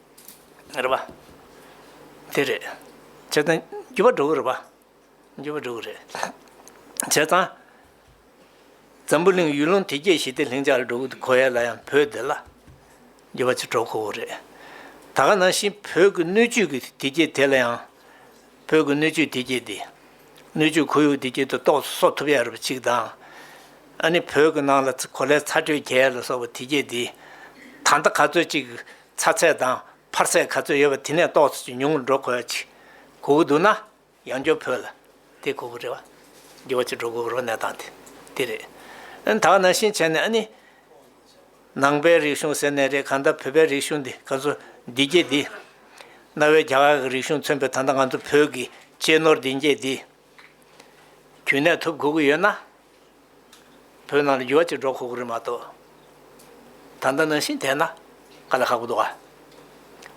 རེད་པ། དེ་རེད། བྱས་ཙང་རྒྱུ་བ་འགྲོ་གི་རེད་པ། རྒྱུ་བ་འགྲོ་གི་རེད། བྱས་ཙང། འཛམ་བུ་གླིང་ཡུལ་ལུང་དེ་རྒྱས་ཞི་བདེ་ལྷིང་འཇགས་ལ་འགྲོ་གི་གོ་ཡས་ལ་ཡང་བོད་འདི་ལ། རྒྱུ་བ་ཅིག་འགྲོ་ཁོ་བོ་རེད། ད་ག་ནང་བཞིན་བོད་ཀྱི་སྣོད་བཅུད་ཀྱི་དེ་རྒྱས་དེ་ལ་ཡང། བོད་ཀྱི་སྣོད་བཅུད་དེ་རྒྱས་དེ། སྣོད་བཅུད་ཁོར་ཡུག་དེ་རྒྱས་དེ་གཏོགས་སུ་གསོག་ཐུབ་ཡ་རེད་པ་ཅིག་དང། ཨ་ནི་བོད་ཀྱི་ནང་ལ་གོ་ལའི་ཚ་དྲོད་རྒྱས་ལ་སོགས་པ་དེ་རྒྱས་དེ། ད་ལྟ་ག་ཚོད་ཅིག་ཚ་ཚད་དང་འཕར་ཚད་ག་ཚོད་ཡོད་པ་དེ་ནས་རྟོགས་ཚོད་ཀྱིས་ཉུང་ངུར་འགྲོ་དགོས་ཀྱི། གོ་གི་འདུག་ན། ཡང་འགྱོ་ཕོད་ལ། དེ་གོ་གི་རེད་བ། འགྱོ་བ་ཅིག་འགྲོ་དགོས་ཀྱི་རོ་གནས་སྟངས་དེ། དེ་རེད། ཨ་ད་ནང་བཞིན་བྱས་ནས་ཨ་ནི། ནང་པའི་རིག་གཞུང་ཟེར་ནས་རེད་གང་ལྟར་བོད་པའི་རིག་གཞུང་འདི་ག་ཚོད་འདི་སྐྱེས་འདི། གནའ་བོའི་རྒྱ་གར་གྱི་རིག་གཞུང་མཚོན་པའི་ད་ལྟ་ང་ཚོ་བོད་ཀྱི་གཅེས་ནོར་འདི་སྐྱེས་འདི། གྱོན་ནས་ཐུབ་དགོས་ཀྱི་ཡོད་ན། བོད་ནང་ལ་འགྱུར་བ་གཅིག་འགྲོ་ཁོག་གི་རེད་མ་གཏོགས། ད་ལྟ་ནང་བཞིན་བསྡད་ན་ག་ལ་ཁག་པོ་འདུག་ག།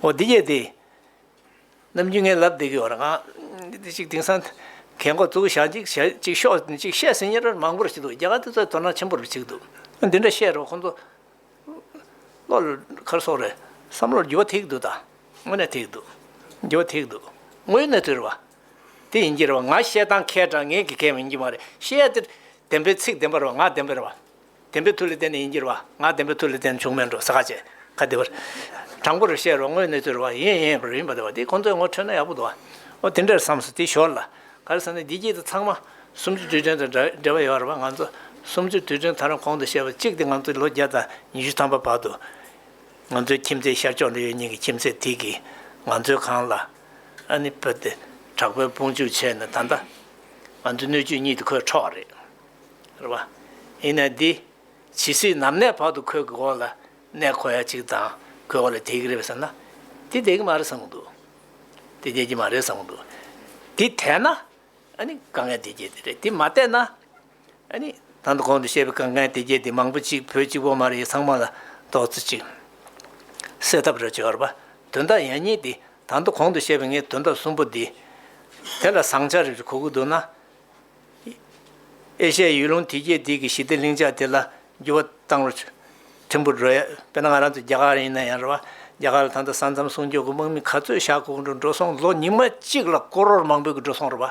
འོ་འདི་གྱེས་ཏེ། ནམ་རྒྱུན་ངས་ལབ་བསྡད་ཀྱི་ཡོད་རང་ཨང། དེ་གཅིག་དེང་སང་གལ་མགོ་བཙུགས་ཤག་ཅིག་བྱས་ཅིག་ཤོག་ཅིག་བཤད་ཟིན་ཉེར་མང་པོར་བྱས་འདུག་རྒྱ་གར་དེ་ཚོ་དོ་སྣང་ཆེན་པོར་བྱེད་འདུག་ཨ་འདི་འདྲ་བཤད་རོགས་ཁོང་ཚོ། བློ་ལ་ཁར་སོང་རེད་བསམ་བློར་འགྱུར་བ་ཐེག་གི་འདུག་ད། དངོས་གནས་ཐེག་གི་འདུག། འགྱུར་བ་ཐེག་གི་འདུག་དངོས་ཡོད་གནས་ཚུལ་རེད་བ། དེ་ཡིན་གྱི་རེད་བ་ང་བཤད་སྟངས་མཁས་དྲང་ངན་གྱི་གལ་ཡིན་གྱི་མ་རེད་བཤད་ཡ་དེ། བདེན་པའི་ཚིག་བདེན་པ་རེད་བ་ང་བདེན་པ་རེད་བ། བདེན་པའི་མཐུ་ལས་བདེན་ནི་ཡིན་གྱི་རེད་བ་ང་བདེན་པའི་མཐུ་ལས་བདེན་བྱུང་མེད་འགྲོ་ས་ག་ཅེ་ག་བདེ་བ་རེད། དྲང་པོ་རེད་བཤད་རེད་བ་དངོས་གནས་དུས་རེད་བ་ཡིན་ཡིན་པ་རེད་ཡིན་པ་རེད་བ་དེ་ཁོང་ཚོས་ངོ་འཕྲོད་ན་ཡག་པོ་འདུག་བ། འོ་དེ་འདྲ་རེད་བསམས་སོ་དེ་ཞོར་ལ། ག་རེ་བསམས་ནས་འདི་གྱིས་དེ་ཚང་མ། སུམ་ཅུ་དུས་སྟོན་དང་འབྲེལ་བ་ཡོད་རེད་བ་ང་ཚོ། སུམ་ཅུ་དུས་སྟོན་ཐ་རང་གོང་དུ་བཤད་པ་གཅིག་དེ་ང་ཚོ་ལོ་བརྒྱ་དང་ཉི་ཤུ་ཐམ་པ་བར་དུ། ང་ཚོའི་ཁྱིམ་མཚེས་ཤར་ཕྱོགས་འདི་ཡོད་ཉིན་གྱི་ཁྱིམ་མཚེས་དེ་གིས་ང་ཚོའི་ཁང་ལ། ཨ་ནི་བུ་དེ་དྲག་པོའི་དཔུང་འཇུག་བྱས་ནས་ད་ལྟ་ང་ཚོའི་སྣོད་བཅུད་གཉིད་དུ་ཁོས་འཕྲོག་རེད། རེད་བ། ཡིན་ནའི་འདི་ཇི་སྲིད་ནམ་གནས་བར་དུ་ཁོས་གོ་ལ་གནས་ཁོ་ཡ་གཅིག་དང་ཁོས་གོ་ལ་དེད་ཀྱི་རེད་བསམ་ན། དེ་དེད་ཀྱི་མ་རེད་བསམ་གྱི་འདུག་དེ་དེད་ཀྱི་མ་རེད་བསམ་གྱི་འདུག་དེ་དེད་ན་ཨ་ནི་དཀའ་ངལ་དེ་སྐྱེས་དེ་རེད་དེ་མ་དེད་ན། ཨ་ནི། ད་ནི་གོང་དུ་བཤད་པའི་གངས་རྒན་དེ་རྒྱལ་དེ་མང་པོ་གཅིག་བོད་གཅིག་བོ་མ་རེད་ཚང་མ་ལ་དོགས་རྩིས་གཅིག་སེལ་ཐབས་རེ་བྱོས་རོགས་པ། དོན་དག་ཡག་ཉེས་དེ་ད་ནི་གོང་དུ་བཤད་པའི་ངའི་དོན་དག་གསུམ་པོ་དེ། དེ་ལ་བཟང་ཆ་རེ་རེ་གོ་གི་འདུག་ན། ཨེ་ཤ་ཡའི་ཡུལ་ལུང་དེ་རྒྱལ་དེ་གི་ཞི་བདེ་ལྷིང་འཇགས་དེ་ལ་འགྱུར་བ་བཏང་རོགས། ཕྲན་བུ་བགྲོ་ཡ། དཔེར་ན་ང་རང་ཚོ་རྒྱ་གར་རིང་ན་ཡང་རེད་བ། རྒྱ་གར་ལ་ད་ལྟ་ས་མཚམས་སྲུང་སྐྱོབ་གི་དམག་མི་ག་ཚོད་ཤག་ཁུག་འགྲོ་འགྲོ་སོང་ལོ་ཉི་མ་གཅིག་ལ་སྐོར་རོར་མང་པོའི་གི་འགྲོ་སོང་རེད་བ།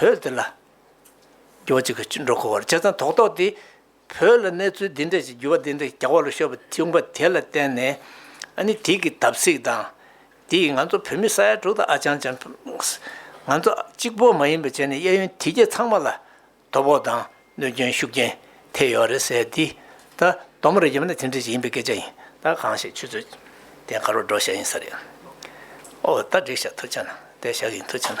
བོད་དེ་ལ་འགྱུར་བ་ཅིག་གིས་འགྲོ་དགོས་བར་བྱས་ཙང་དོགས་དོགས་དེས་བོད་ལ་གནས་ཚུལ་འདི་འདྲ་ཞིག་འགྱུར་བ་འདི་འདྲ་ཞིག་རྒྱག་བ་ལ་ཤོར་བ་བྱུང་བ་དེ་ལ་བརྟེན་ནས་ཨ་ནི་དེ་གི་དམ་ཚིག་དང། དེ་ཡིས་ང་ཚོ་བོད་མི་ས་ཡ་དྲུག་དང་ཨ་ཅང་ཅང། ང་ཚོ་གཅིག་པོ་མ་ཡིན་པར་བྱས་ནས་གཡས་གཡོན་དེ་རྒྱལ་ཚང་མ་ལ་དོ་ཕོག་དང་གནོད་སྐྱོན་ཤུགས་རྐྱེན་ཐེབས་ཡོད་རེད་ཟེར་དུས། ད་དོམ་རེ་བརྒྱབ་ན་དེ་འདྲ་ཞིག་ཡིན་པའི་སྐད་ཆ་ཡིན། ད་གང་ཞིག་ཆུ་ཚོད་དེ་ག་རུ་འགྲོ་བཞག་ཡིན་ས་རེད། ཨོ་ད་བསྒྲིགས་བཞག་ཐུགས་ཆེ་ན་བསྡད་བཞག་ཡིན་ཐུགས་ཆེ་ན།